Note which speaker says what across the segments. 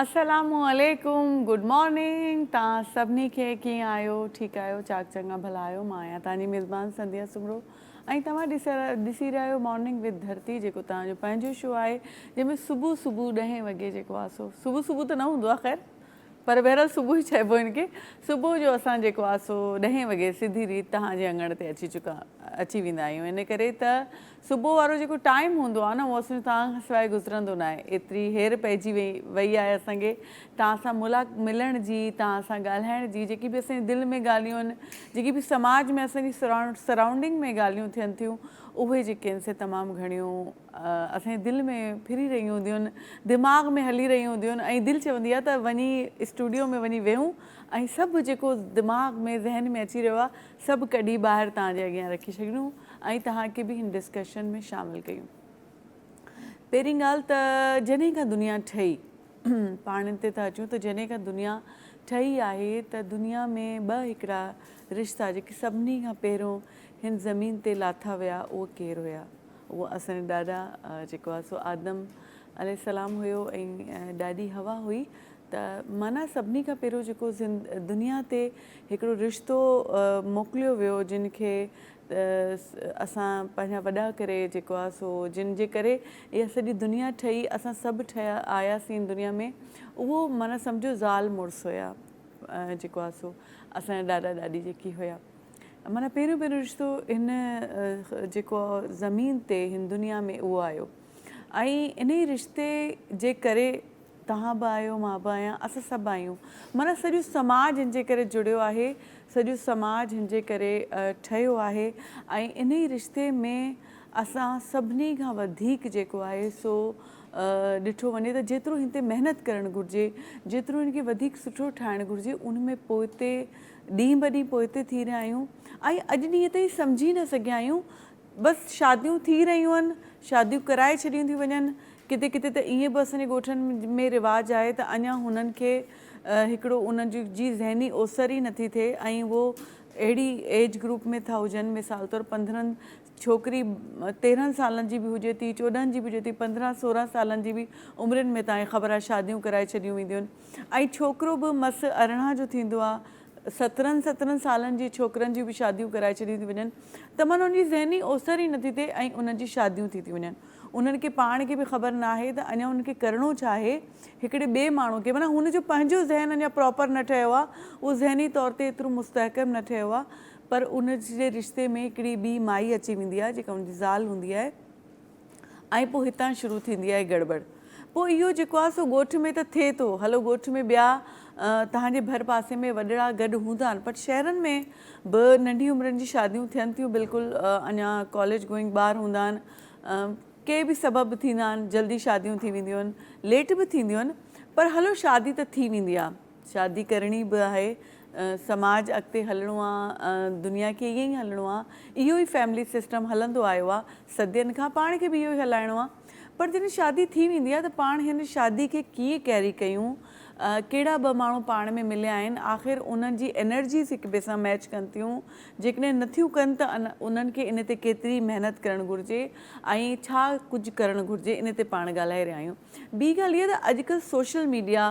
Speaker 1: السلام عليڪم good morning تان سڀني کي ڪيئن آهيو ٺيڪ آهيو چاڪ چڱا ڀلا آهيو مان آهيان تان جي ميزبان سنديا سمرو ۽ توهان ڏسي رهيا آهيو مارننگ وٿ ڌرتي جيڪو توهان جو پنهنجو شو آهي جنهن ۾ صبح صبح ڏهين وڳي جيڪو آهي سو صبح صبح ته نه هوندو آهي خير پر بهرحال صبح ئي چئبو هن کي صبح جو اسان جيڪو آهي سو ڏهين وڳي سڌي ريت توهان جي اڱڻ تي اچي چڪا اچي ويندا آهيون ان ڪري ته صبح وارو جيڪو ٽائيم هوندو آهي نه اهو اسان جو توهان کان سواء گذرندو ناهي ايتري هير پئجي وئي آهي اسان کي توهان سان ملا ملڻ جي توهان سان ڳالهائڻ جي جيڪي به اسان جي دل ۾ ڳالهيون آهن جيڪي به سماج ۾ اسان جي سرائونڊنگ ۾ ڳالهيون ٿين ٿيون اهي جيڪي آهن سي تمام گهڻيون اسان جي دل ۾ ڦري رهيون هونديون آهن دماغ ۾ هلي رهيون هونديون آهن ۽ دل چوندي آهي ته وڃي اسٽوڊيو ۾ وڃي ويهون ۽ سڀ جيڪو دماغ ۾ ذهن ۾ اچي رهيو آهي سڀ ڪڍي ٻاهر توهان جي اڳيان رکي ڇڏيون ۽ توهان کي به هن ڊسڪشن ۾ شامل ڪيون. پهرين ڳالهه ته جڏهن کان دنيا ٺهي، پاڻين تي ٿا اچون ته جڏهن کان دنيا ٺهي آهي ته دنيا ۾ ٻه هڪڙا رشتا جيڪي سڀني کان پهريون هن زمين تي لاٿا ويا اهي ڪير هيا؟ اهي اسان جا ڏاڏا جيڪو آهي سو آدم عليه السلام هيو ۽ ڏاڏي حوا هئي ته معنيٰ سڀني کان پهريون جيڪو دنيا تي هڪڙو رشتو موڪليو ويو جن کي اسان پنهنجا وڏا ڪري جيڪو آ سو جن جي ڪري اها سڄي دنيا ٺهي اسان سڀ ٺهيا آياسين دنيا ۾ اهو معنيٰ سمجهو زال مڙس هيا جيڪو آ سو اسان جا ڏاڏا ڏاڏي جيڪي هيا معنيٰ پهريون پهريون رشتو هن جيڪو زمين تي هن دنيا ۾ اهو آيو. ۽ انهي رشتي جي ڪري توهان به آهيو مان به آهيان اسان سڀ آهيون معنيٰ سڄو سماج هن جي ڪري جڙيو آهي سڄو سماج هن جي ڪري ٺهيو آهي ۽ انهي رشتي ۾ اسان سڀني کان وڌيڪ جيڪو آهي سو ڏٺو وڃي ته جيترو هن تي محنت ڪرڻ گهرجي جيترو هن کي وڌيڪ سٺو ٺاهڻ گهرجي ان ۾ پوئتي ڏينهن به ڏينهن پوئتي ٿي رهيا آهيون ۽ اڄ ڏينهن تائين سمجهي نه سگهيا آهيون بس شاديون ٿي رهيون آهن، شاديون ڪرائي ڇڏيون ٿيون وڃن، ڪٿي ڪٿي ته ائين به اسان جي ڳوٺن ۾ رواج آهي ته اڃان هنن کي هڪڙو ان جي ذهني اوسر ئي نٿي ٿئي ۽ هو اهڙي ايج گروپ ۾ ٿا هجن مثال طور پندرهن ڇوڪري تيرهن سالن جي به هجي ٿي چوڏهن جي به هجي ٿي پندرهن سورهن سالن جي به عمرين ۾ تائين خبر آهي شاديون ڪرائي ڇڏيون وينديون آهن ۽ ڇوڪرو به مس ارڙهن جو ٿيندو آهي سترهن سترهن سالن جي ڇوڪرن جون به شاديون ڪرائي ڇڏيون ٿيون وڃن ته معنيٰ ان جي ذهني اوسر ئي نٿي ٿئي ۽ انهن جي شاديون ٿي ٿيون وڃن انهن کي پاڻ کي به خبر ناهي ته اڃان انهن کي ڪرڻو ڇا آهي هڪڙي ٻئي ماڻهو کي معنيٰ هن جو پنهنجو ذهن اڃان پراپر نه ٺهيو آهي اهو ذهني طور تي ايترو مستحڪم نه ٺهيو آهي پر ان جي رشتي ۾ هڪڙي ٻي مائي اچي ويندي آهي جيڪا ان جي زال هوندي آهي ۽ پوء هتان شروع ٿيندي آهي گڙٻڙ. پوء اهو جيڪو آهي سو ڳوٺ ۾ ته ٿئي ٿو. هلو ڳوٺ ۾ ٻيا توهان جي ڀر پاسي ۾ وڏڙا گڏ هوندا آهن پر شهرن ۾ به ننڍي عمرن جي شاديون ٿين ٿيون بلڪل اڃا ڪاليج گوئنگ ٻار هوندا آهن ڪي به سبب به ٿيندا آهن جلدي شاديون ٿي وينديون آهن ليٽ به ٿينديون آهن پر هلو شادي ته ٿي ويندي آهي. شادي ڪرڻي به آهي سماج اڳتي هلڻو آ دنيا کي ائين ئي هلڻو آ اهو ئي فيملي سسٽم هلندو آيو آ صدين کان پاڻ کي به اهو ئي هلائڻو آ پر جڏهن شادي ٿي ويندي آ ته پاڻ هن شادي کي ڪيئن ڪيري ڪيون ڪهڙا ٻه ماڻهو پاڻ ۾ مليا آهن آخر انهن جي انرجيز هڪ ٻئي سان ميچ ڪن ٿيون جيڪڏهن نٿيون ڪن ته انهن کي ان تي ڪيتري محنت ڪرڻ گهرجي ۽ ڇا ڪجهه ڪرڻ گهرجي ان تي پاڻ ڳالهائي رهيا آهيون ٻي ڳالهه اها ته اڄڪلهه سوشل ميڊيا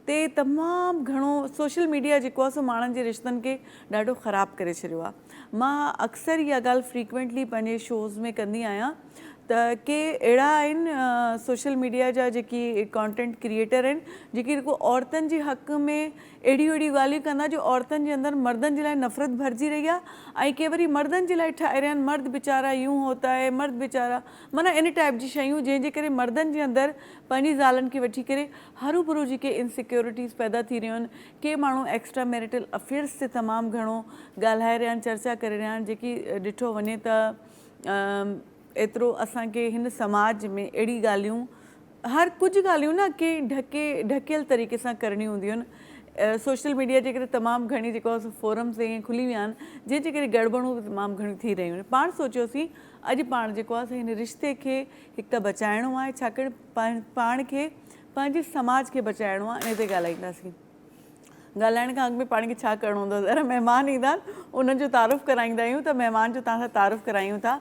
Speaker 1: تي تمام گهڻو سوشل ميڊيا جيڪو آ سو ماڻهن جي رشتن کي ڏاڍو خراب ڪري ڇڏيو آ مان اڪثر اها ڳالهه فريڪوينٽلي پنهنجي شوز ۾ ڪندي آهيان ته ڪي اهڙا آهن سوشل ميڊيا جا جيڪي ڪانٽينٽ ڪريئيٽر آهن جيڪي رڳو عورتن جي حق ۾ اهڙيون اهڙيون ڳالهيون ڪندا جو عورتن جي اندر مردن جي لاء نفرت ڀرجي رهي آ ۽ ڪي وري مردن جي لاء ٺاهي رهيا آهن مرد بيچارا يون هوتا هي مرد بيچارا معنيٰ ان ٽائيپ جي شيون جنهن جي ڪري مردن جي اندر پنهنجي زالن کي وٺي ڪري هروڀرو جيڪي ان سيڪيورٽيز پيدا ٿي رهيون آهن، ڪي ماڻهو ايڪسٽرا ميريٽل افيئرز تي تمام گهڻو ڳالهائي رهيا آهن، چرچا ڪري رهيا آهن، جيڪي ڏٺو وڃي ته ايترو اسان کي هن سماج ۾ اهڙي ڳالهيون هر ڪجهه ڳالهيون نه ڪي ڍڪي ڍڪيل طريقي سان ڪرڻيون هونديون آهن، سوشل ميڊيا جي ڪري تمام گهڻي جيڪو آهي سو فورمز ائين کلي ويا آهن، جنهن جي ڪري گڙٻڙون به تمام گهڻيون ٿي رهيون آهن، پاڻ سوچيوسين اڄ پاڻ جيڪو آهي سو هن رشتي کي هڪ ته بچائڻو آهي، ڇاڪاڻ پاڻ کي پنهنجي سماج کي بچائڻو آهي ان تي ڳالهائينداسين ڳالهائڻ کان اڳ ۾ پاڻ کي ڇا ڪرڻو هوندو ذرا مهمان ايندا آهن انهن جو تعارف ڪرائيندا آهيون ته مهمان جو تهان سان تعارف ڪرايون ٿا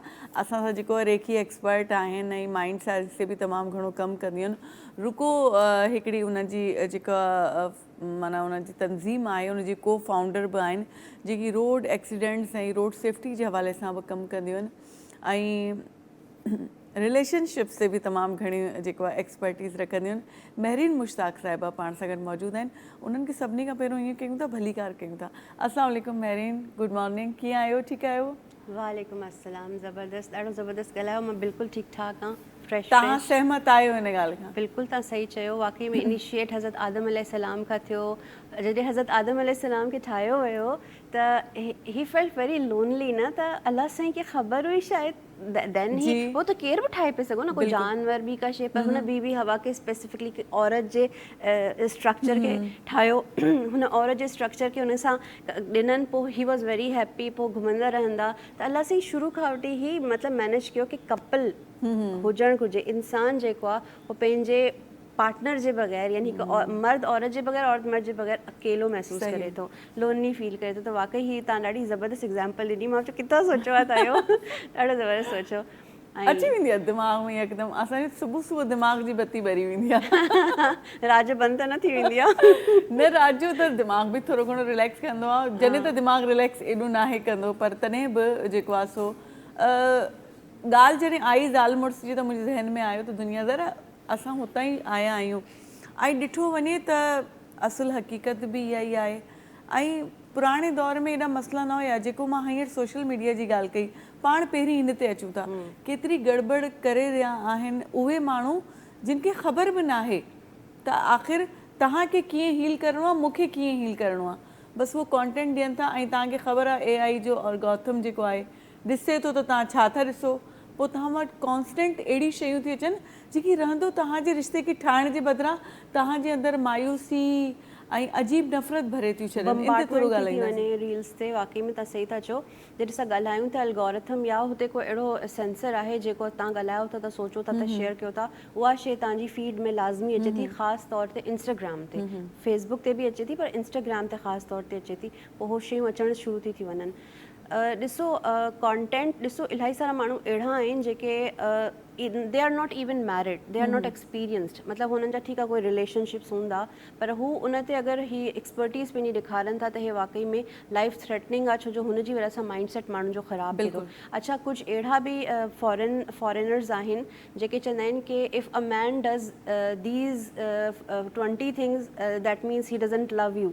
Speaker 1: اسان سان جيڪو ريکي ايڪسپرٽ آهن ۽ مائنڊ سائنس تي به تمام گهڻو ڪم ڪنديون آهن رڪو هڪڙي انهن جي جيڪا مانا انهن جي تنظيم آهي ان جي ڪو فائونڊر به آهن جيڪي روڊ ايڪسيڊنٽس ۽ روڊ سيفٽي جي حوالي سان به ڪم ڪنديون آهن ۽ رليشن شپس تي به تمام گهڻي جيڪو آهي ايڪسپرٽيز رکنديون مهرين مشتاق صاحبه پاڻ سان گڏ موجود آهن انهن کي سڀني کان پهريون ائين ڪيون ٿا ڀليڪار ڪيون ٿا السلام عليڪم مهرين گڊ مارننگ ڪيئن آهيو ٺيڪ آهيو وعليڪم السلام
Speaker 2: زبردست ڏاڍو زبردست ڳالهايو مان بلڪل ٺيڪ ٺاڪ آهان فريش تهان سهمت آهيو
Speaker 1: ان ڳالهه کان بلڪل تهان صحيح چيو
Speaker 2: واقعي ۾ انيشيٽ حضرت آدم عليه السلام کان ٿيو جڏهن حضرت آدم عليه السلام کي ٺاهيو ويو ته هي فيلٽ ويري لونلي نه ته الله سائين کي خبر هئي شايد دين هي هو ته ڪير به ٺاهي پئي سگهو نه ڪو جانور ٻي ڪا شيء پر هن بي بي حوا کي اسپيسفڪلي هڪ عورت جي اسٽرڪچر کي ٺاهيو هن عورت جي اسٽرڪچر کي هن سان ڏنن پوء هي واز ويري هيپي پوء گهمندا رهندا ته الله سائين شروع کان وٺي هي مطلب مينيج ڪيو ڪي ڪپل هجڻ گهرجي انسان جيڪو آهي هو پنهنجي پارٽنر جي بغير يعني هڪ مرد عورت جي بغير عورت مرد جي بغير اڪيلو محسوس ڪري ٿو لونلي فيل ڪري ٿو ته واقعي هي تان ڏاڍي زبردست ايگزامپل ڏني مان چيو ڪٿان سوچيو آ تان اهو ڏاڍو زبردست سوچيو اچي ويندي آ
Speaker 1: دماغ ۾ يڪدم اسان جي صبح صبح دماغ جي بتي ٻري ويندي آ رات جو بند ته نه ٿي
Speaker 2: ويندي آ نه رات جو ته
Speaker 1: دماغ به ٿورو گهڻو ريليڪس ڪندو آ جڏهن ته دماغ ريليڪس ايڏو ناهي ڪندو پر تڏهن به جيڪو آ سو ڳالهه جڏهن آئي زال مڙس جي ته منهنجي ذهن ۾ آيو ته دنيا ذرا اسان هتان ئي آيا آهيون ۽ ڏٺو وڃي ته اصل حقيقت به اها ئي آهي ۽ پراڻي دور ۾ ايڏا مسئلا نه هيا جيڪو مان هينئر سوشل ميڊيا جي ڳالهه ڪئي پاڻ پهرين هن تي اچون ٿا ڪيتري گڙٻڙ ڪري رهيا آهن اهي ماڻهو جن کي خبر به ناهي ته آخر توهان کي ڪيئن هيل ڪرڻو آهي مون کي ڪيئن هيل ڪرڻو آهي بس اهو ڪانٽينٽ ڏين ٿا ۽ توهان کي خبر آهي اي آئي جو الگارٿم جيڪو آهي ڏسي ٿو ته توهان ڇا ٿا ڏسو. پوء توهان وٽ ڪانسٽنٽ اهڙيون شيون ٿيون اچن جيڪي رهندو توهان جي رشتي کي ٺاهڻ جي بدران توهان جي اندر مايوسي ۽ عجيب نفرت ڀري ٿيون ڇڏن. ان تي ٿورو ڳالهائينداسين. بمبارڊمينٽ ٿي ٿي وڃي ريلز تي واقعي ۾
Speaker 2: تون صحيح ٿا چئو جڏهن اسان ڳالهايون ته الگورٿم يا هتي ڪو اهڙو سينسر آهي جيڪو توهان ڳالهايو ٿا ته سوچو ٿا ته شيئر ڪيو ٿا اها شي توهان جي فيڊ ۾ لازمي اچي ٿي خاص طور تي انسٽاگرام تي فيسبوڪ تي به اچي ٿي پر انسٽاگرام تي خاص طور تي اچي ٿي پوء اهو شيون اچڻ شروع ٿي ٿي وڃن ڏسو ڪانٽينٽ ڏسو الائي سارا ماڻهو اهڙا آهن جيڪي they are not even married they are not experienced مطلب هنن جا ٺيڪ آهي ڪوئي رليشن شپس هوندا پر هو ان تي اگر هي ايڪسپرٽيز پنهنجي ڏيکارن ٿا ته هي واقعي ۾ لائف ٿريٽننگ آهي ڇوجو هن جي وجه سان مائنڊ سيٽ ماڻهن جو خراب ٿي ٿو اڇا ڪجهه اهڙا به فارن فارينرز آهن جيڪي چوندا آهن ڪي if a man does these twenty things that means he doesn't love you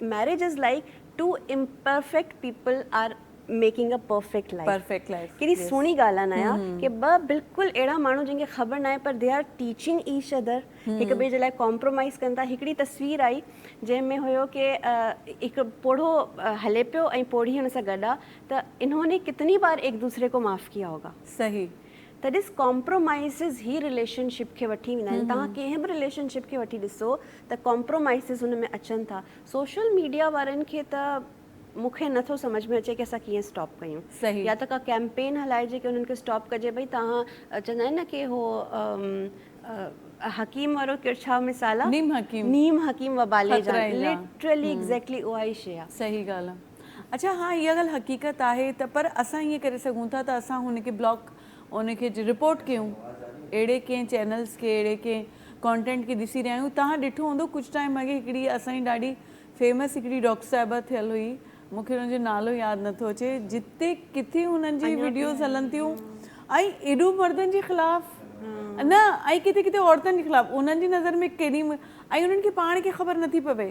Speaker 2: marriage is like two imperfect people are making a perfect life perfect life ڪيڏي Yes. سهڻي ڳالهه آهي نايا مم. ڪي ٻه بلڪل اهڙا ماڻهو جن کي خبر ناهي پر they are teaching each other هڪ ٻئي جي لاء ڪامپرومائز ڪن ٿا هڪڙي تصوير آئي جنهن ۾ هيو ڪي آ، هڪ پوڙهو آ، هلي پيو ۽ پوڙهي هن سان گڏ آ ته انهون ني ڪتني بار ايڪ دوسري ڪو معاف ڪيا هوگا صحيح ته
Speaker 1: ڏس
Speaker 2: ڪامپرومائيزز هي رليشن شپ کي وٺي ويندا آهن توهان ڪنهن به رليشن شپ کي وٺي ڏسو ته ڪامپرومائيزز هن ۾ اچن ٿا سوشل ميڊيا وارن کي ته مون کي نه ٿو سمجهه ۾ اچي ڪي اسان ڪيئن اسٽاپ ڪيون يا ته ڪا
Speaker 1: ڪيمپين
Speaker 2: هلائجي ڪي انهن کي اسٽاپ ڪجي ڀئي توهان چوندا آهن نه ڪي هو حڪيم وارو ڪير ڇا مثال آهي نيم حڪيم نيم حڪيم وبالي جان لٽرلي ايگزيڪٽلي اها ئي شي آهي صحيح ڳالهه آهي
Speaker 1: اڇا ها اها ڳالهه حقيقت آهي ته پر اسان ائين ڪري سگهون ٿا ته اسان هن کي بلاڪ ان کي رپورٽ ڪيون اهڙي ڪنهن چينلز کي اهڙي ڪنهن ڪانٽينٽ کي ڏسي رهيا آهيون توهان ڏٺو هوندو ڪجهه ٽائيم اڳي هڪڙي اسان جي ڏاڍي فيمس هڪڙي ڊاڪٽر صاحبه ٿيل هئي مون کي ان جو نالو ياد نه ٿو اچي جتي ڪٿي هنن جي وڊيوز هلن ٿيون ۽ ايڏو مردن جي خلاف نه ۽ ڪٿي ڪٿي عورتن جي خلاف انهن جي نظر ۾ ڪيڏي ۽ انهن کي پاڻ کي خبر نٿي پوي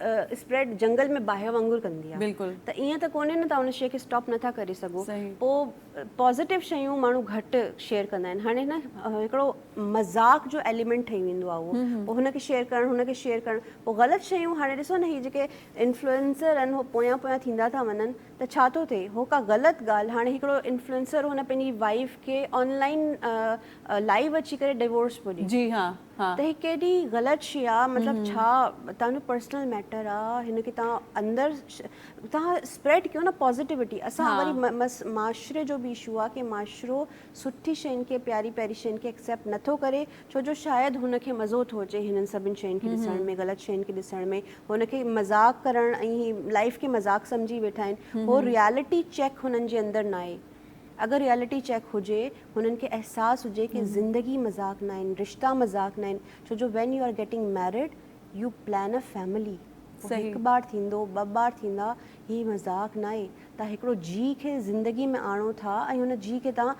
Speaker 2: اسپريڊ جنگل ۾ باهه وانگر ڪندي آ ته ايئن ته ڪونهي
Speaker 1: نه تان
Speaker 2: ان شئي کي اسٽاپ نٿا ڪري سگهو پو
Speaker 1: پازيٽو
Speaker 2: شيون ماڻهو گهٽ شيئر ڪندا آهن هاڻي نه هڪڙو مذاق جو ايليمينٽ ٺهي ويندو آ اهو پو هن کي شيئر ڪرڻ هن کي شيئر ڪرڻ پو غلط شيون هاڻي ڏسو نه هي جيڪي انفلوئنسر آهن هو پويان پويان ٿيندا ٿا وڃن ته ڇا ٿو ٿئي هو ڪا غلط ڳالهه هاڻي هڪڙو انفلوئنسر هن پنهنجي وائيف کي آن لائين لائيو اچي ڪري ڊوورس پو ڏي ته هي
Speaker 1: ڪيڏي غلط
Speaker 2: شي آ مطلب ڇا تنهن جو پرسنل ميٽر آ هن کي تنهن اندر تنهن اسپريڊ ڪيو نه پازيٽيوٽي اسان وري معاشري جو به اشو آ ڪي معاشرو سٺي شين کي پياري پياري شين کي اڪسيپٽ نه ٿو ڪري ڇو جو شايد هن کي مزو ٿو اچي هنن سڀن شين کي ڏسڻ ۾ غلط شين کي ڏسڻ ۾ هن کي مذاق ڪرڻ ۽ لائيف کي مذاق سمجهي ويٺا آهن هو ريالٽي چيڪ هنن جي اندر ناهي اگر ريئلٽي چيڪ هجي هنن کي احساس هجي ڪي زندگي مذاق ناهن رشتا مذاق ناهن ڇو جو when you are getting married you plan a family پوء هڪ ٻار ٿيندو ٻه ٻار ٿيندا هي مذاق ناهي تان هڪڙو جي کي زندگي ۾ آڻو ٿا ۽ هن جي کي تان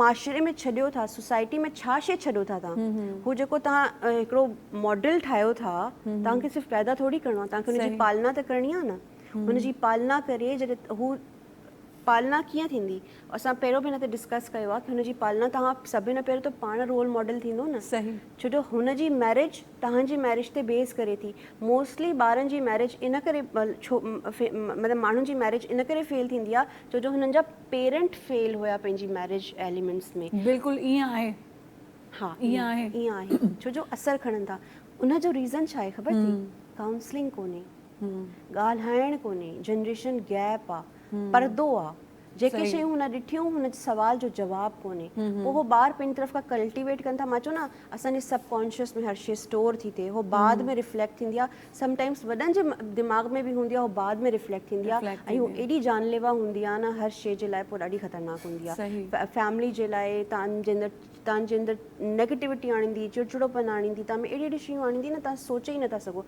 Speaker 2: معاشري ۾ ڇڏيو ٿا سوسائٽي ۾ ڇا شي ڇڏيو ٿا تان هو جيڪو تان هڪڙو ماڊل ٺاهيو ٿا تان کي صرف پيدا ٿوري ڪرڻو آ تان کي ان جي پالنا ته ڪرڻي آ نه هن جي پالنا ڪري جڏهن هو پالنا ڪيئن ٿيندي؟ اسان پهريون به هن تي ڊسڪس ڪيو آهي ته هن جي پالنا تهان سڀني کان پهريون ته پاڻ رول ماڊل ٿيندو نه ڇو جو هن
Speaker 1: جي
Speaker 2: مئريج تهان جي مئريج تي بيس ڪري ٿي موسٽلي ٻارن جي مئريج ان ڪري مطلب ماڻهن جي مئريج ان ڪري فيل ٿيندي آهي ڇو جو هنن جا پيرنٽ فيل هيا پنهنجي مئريج ايليمينٽس ۾ بلڪل ائين آهي
Speaker 1: ها
Speaker 2: ائين آهي
Speaker 1: ڇو جو
Speaker 2: اثر کڻن ٿا ان جو ريزن ڇا آهي خبر اٿئي ڪائونسلنگ ڪونهي. ڳالهائڻ ڪونهي جنريشن گيپ آ پردو آ جيڪي شيون هن ڏٺيون هن جي سوال جو جواب ڪونهي پوء هو ٻار پنهنجي طرف کان ڪلٽيويٽ ڪن ٿا مان چيو نه اسان جي سب ڪانشيس ۾ هر شي اسٽور ٿي ٿئي هو بعد ۾ رفليڪٽ ٿيندي آ سم ٽائمس وڏن جي دماغ ۾ به هوندي آ هو بعد ۾ رفليڪٽ ٿيندي آ ۽ هو ايڏي جانليوا هوندي آ نه هر شي جي لاء پوء ڏاڍي خطرناڪ هوندي آ فيملي جي لاء تان جي اندر تان جي اندر نيگيٽيوٽي آڻيندي چڙچڙو پن آڻيندي تان ۾ اهڙي اهڙي شيون آڻيندي نه تان سوچي ئي نٿا سگهو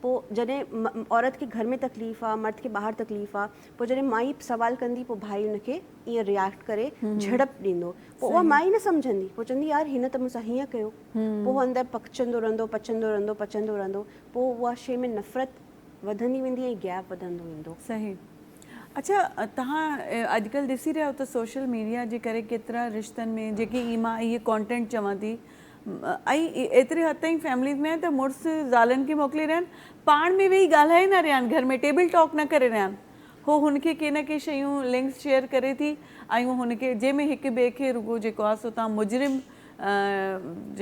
Speaker 2: پوء جڏهن عورت کي گهر ۾ تڪليف آ مرد کي ٻاهر تڪليف آ پوء جڏهن مائي سوال ڪندي پوء ڀائي ان کي ائين رياڪٽ ڪري جهڙپ ڏيندو پوء اها مائي نه سمجهندي پوء چوندي يار هن ته مون سان هيئن ڪيو پوء اندر پکچندو رهندو پچندو رهندو پچندو رهندو پوء اها شيء ۾ نفرت وڌندي ويندي ۽ گيپ وڌندو ويندو. صحيح
Speaker 1: اڇا تهان اڄڪلهه ڏسي رهيا آهيو ته سوشل ميڊيا جي ڪري ڪيترا رشتن ۾ جيڪي اي مان اهي ڪانٽينٽ چوان ٿي ائين ايتري حد تائين فيمليز ۾ آهي ته مڙس زالن کي موڪلي رهيا آهن پاڻ ۾ ويهي ڳالهائي نه رهيا آهن گهر ۾ ٽيبل ٽاڪ نه ڪري رهيا آهن هو هن کي ڪي نه ڪي شيون لنڪس شيئر ڪري ٿي ۽ هن کي جنهن ۾ هڪ ٻئي کي رڳو جيڪو آهي سو تان مجرم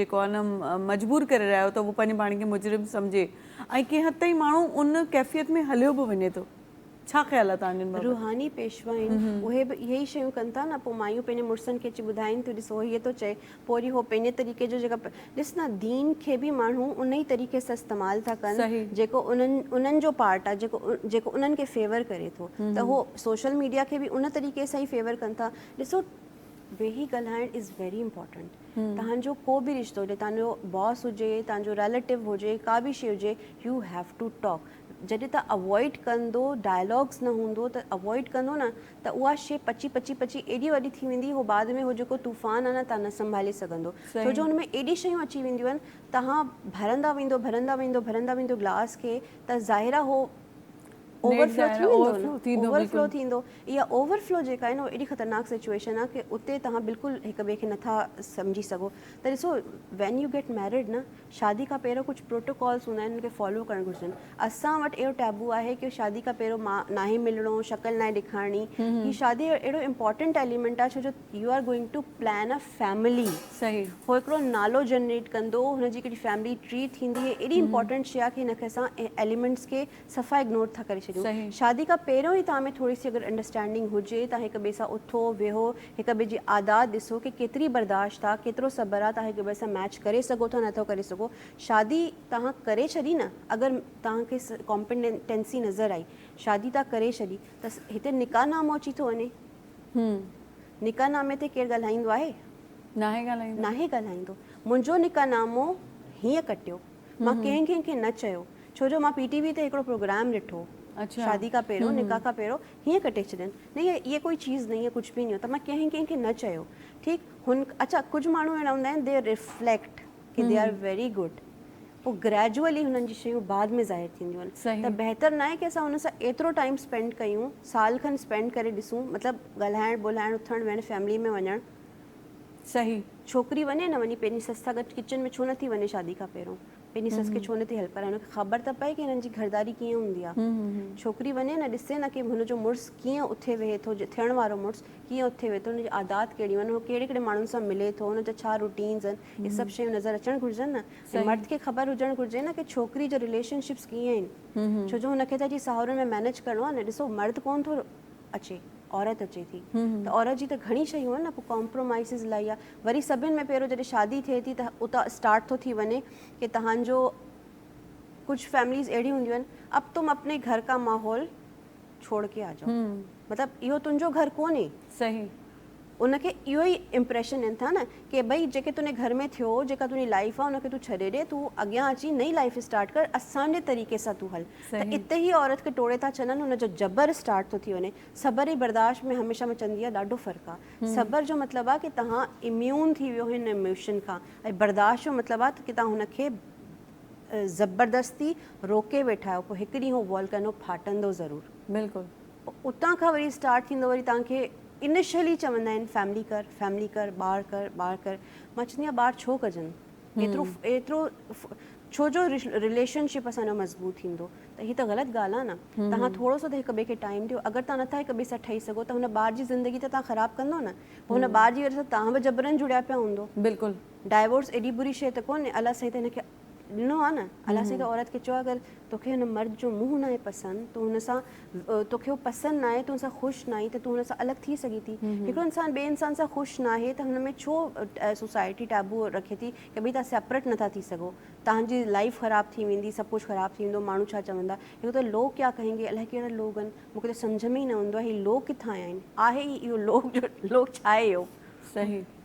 Speaker 1: جيڪو آهي نه مجبور ڪري رهيا آهيو ته هو پنهنجي پاڻ کي مجرم سمجهي ۽ ڪنهن حد تائين ماڻهو ان ڪيفيت ۾ هليو به وڃي ٿو ڇا خيال آهي تنهنجن بابت روحاني پيشوا آهن
Speaker 2: اهي به اهي ئي شيون ڪن ٿا نه پوء مايون پنهنجن مڙسن کي اچي ٻڌائين ٿيون ڏسو هيء ٿو چئي پوء وري هو پنهنجي طريقي جو جيڪا ڏس نه دين کي به ماڻهو ان ئي طريقي سان استعمال ٿا ڪن جيڪو انهن انهن جو پارٽ آهي جيڪو جيڪو انهن کي فيور ڪري ٿو ته هو سوشل ميڊيا کي به ان طريقي سان ئي فيور ڪن ٿا ڏسو ويهي ڳالهائڻ از ويري امپورٽنٽ تهانجو ڪو به رشتو هجي تهانجو باس هجي تهانجو ريليٽو هجي ڪا به شي هجي يو هيو ٽو ٽاڪ جڏهن تان اوائڊ ڪندو ڊائلاگس نه هوندو ته اوائڊ ڪندو نه ته اها شي پچي پچي پچي ايڏي وڏي ٿي ويندي هو بعد ۾ هو جيڪو طوفان آهي نه تان نه سنڀالي سگهندو ڇو جو ان ۾ ايڏي شيون اچي وينديون آهن تهان ڀرندا ويندو ڀرندا ويندو ڀرندا ويندو گلاس کي ته ظاهر آهي هو اوور فلو ٿي ويندو نه اوور فلو ٿيندو اها اوور فلو جيڪا آهي نه ايڏي خطرناڪ سچوئيشن آهي ڪي اتي تهان بلڪل هڪ ٻئي کي نٿا سمجهي سگهو ته ڏسو وين يو گيٽ ميريڊ نه شادي کان پهريون ڪجهه پروٽوڪالز هوندا آهن ان کي فالو ڪرڻ گهرجن اسان وٽ اهڙو ٽيبو آهي ڪي شادي کان پهريون ما ناهي ملڻو شڪل ناهي ڏيکارڻي هي شادي اهڙو امپورٽنٽ ايليمنٽ آهي ڇو جو you are going to plan a family صحيح هو هڪڙو
Speaker 1: نالو
Speaker 2: جنريٽ ڪندو هن جي هڪڙي فيملي ٽري ٿيندي هي اهڙي امپورٽنٽ شي آهي ڪي هن کي اسان ايليمنٽس کي صفا اگنور ٿا ڪري ڇڏيون شادي کان پهريون ئي توهان ۾ ٿوري سي اگر انڊرسٽينڊنگ هجي توهان هڪ ٻئي سان اٿو ويهو هڪ ٻئي جي عادات ڏسو ڪي ڪيتري برداشت آ ڪيترو صبر آ توهان هڪ ٻئي سان ميچ ڪري سگهو ٿا نه ٿو ڪري سگهو شادي توهان ڪري ڇڏي نه اگر توهان کي ڪامپينٽنسي نظر آئي شادي توهان ڪري ڇڏي ته هتي نڪاح نامو اچي ٿو وڃي نڪاح نامي تي ڪير ڳالهائيندو آهي ناهي ڳالهائيندو ناهي ڳالهائيندو منهنجو نڪاح نامو هيئن ڪٽيو مان ڪنهن ڪنهن کي نه چيو ڇو جو مان پي ٽي وي تي هڪڙو پروگرام ڏٺو شادي کان پهريون نڪاح کان پهريون هيئن ڪٽي ڇڏين نهين هيء ڪوئي چيز نهين هيء ڪجهه به نهين ته مان ڪنهن ڪنهن کي نه چيو ٺيڪ هن اڇا ڪجهه ماڻهو اهڙا هوندا آهن دي ريفليڪٽ ڪي دي آر ويري گڊ پوء گريجوئلي هنن جي شيون بعد ۾ ظاهر ٿينديون آهن ته بهتر ناهي ڪي اسان هن سان ايترو ٽائيم اسپينڊ ڪيون سال کن اسپينڊ ڪري ڏسون مطلب ڳالهائڻ ٻولهائڻ اٿڻ ويهڻ فيملي ۾ وڃڻ صحيح
Speaker 1: ڇوڪري وڃي
Speaker 2: نه وڃي پنهنجي سس سان گڏ ڪچن ۾ ڇو نه ٿي وڃي شادي کان پهريون پنهنجي سس کي ڇو نه ٿي هيلپ ڪرائي ان کي خبر ته پئي ڪي هنن جي گهرداري ڪيئن هوندي آ ڇوڪري وڃي نه ڏسي نه ڪي هن جو مڙس ڪيئن اٿي ويهي ٿو ٿيڻ وارو مڙس ڪيئن اٿي ويهي ٿو هن جي عادات ڪهڙيون آهن هو ڪهڙي ڪهڙي ماڻهن سان ملي ٿو هن جا ڇا روٽينز آهن هي سڀ شيون نظر اچڻ گهرجن نه ۽ مرد کي خبر هجڻ گهرجي نه ڪي ڇوڪري جا رليشن شپس ڪيئن آهن ڇو جو هن کي ته جي ساهورن ۾ مينيج ڪرڻو آ نه ڏسو مرد ڪون ٿو اچي عورت اچي ٿي ته عورت جي ته گهڻي شيون آهن نه پوء ڪامپرومائيز الائي آهي وري سڀني ۾ پهريون جڏهن شادي ٿئي ٿي ته اتان اسٽارٽ ٿو ٿي وڃي ڪي تهانجو ڪجهه فيمليز اهڙيون هونديون آهن اب تم اپني گهر ڪا ماحول ڇوڙ ڪي آجاؤ مطلب اهو تنهنجو گهر ڪونهي صحيح
Speaker 1: ان کي
Speaker 2: اهو ئي امپريشن ڏين ٿا نه ڪي ڀئي جيڪي تنهنجي گهر ۾ ٿيو جيڪا تنهنجي لائيف آ ان کي تون ڇڏي ڏي تون اڳيان اچي نئين لائيف اسٽارٽ ڪر اسان جي طريقي سان تون هل ته اتي هي عورت کي ٽوڙي ٿا ڇڏن ان جو جبر اسٽارٽ ٿو ٿي وڃي صبر ۽ برداشت ۾ هميشه مان چوندي آهيان ڏاڍو فرق آ صبر جو مطلب آ ڪي توهان اميون ٿي ويو هن اموشن کان ۽ برداشت جو مطلب آ ته ڪي توهان هن کي زبردستي روڪي ويٺا آهيو پوء هڪ ڏينهن هو والڪينو ڦاٽندو ضرور. بلڪل
Speaker 1: اتان کان وري
Speaker 2: اسٽارٽ ٿيندو وري توهان کي انيشلي چوندا آهن فيملي ڪر فيملي ڪر ٻار ڪر ٻار ڪر مان چوندي آهيان ٻار ڇو ڪجن ايترو ايترو ڇو جو رليشن شپ اسان جو مضبوط ٿيندو ته هي ته غلط ڳالهه آهي نه توهان ٿورو سو ته هڪ ٻئي کي ٽائيم ڏيو اگر توهان نٿا هڪ ٻئي سان ٺهي سگهو ته هن ٻار جي زندگي ته توهان خراب ڪندو نه پوء هن ٻار جي وجه سان توهان به جبرن جڙيا پيا هوندو بلڪل ڊائيورس
Speaker 1: ايڏي بري
Speaker 2: شي ته ڪونهي الله سائين ته هن کي ڏنو آ نه الله سائين ڪنهن عورت کي چيو آ اگر توکي هن مرد جو منهن ناهي پسند تون هن سان توکي هو پسند ناهي تون هن سان خوش ناهي ته تون هن سان الڳ ٿي سگهي ٿي هڪڙو انسان ٻي انسان سان خوش ناهي ته هن ۾ ڇو سوسائٽي ٽابو رکي ٿي ڪي ڀي تان سيپريٽ نٿا ٿي سگهو تانجي لائف خراب ٿي ويندي سڀ ڪجهه خراب ٿي ويندو ماڻهو ڇا چوندا هڪ ته لوگ ڪيا ڪهين گي الائي ڪهڙا لوگ آهن مونکي ته سمجهه ۾ ئي نه ايندو آهي هي لوگ ڪٿان آيا آهن آهي ئي اهو لوگ جو لوگ ڇا آهي اهو صحيح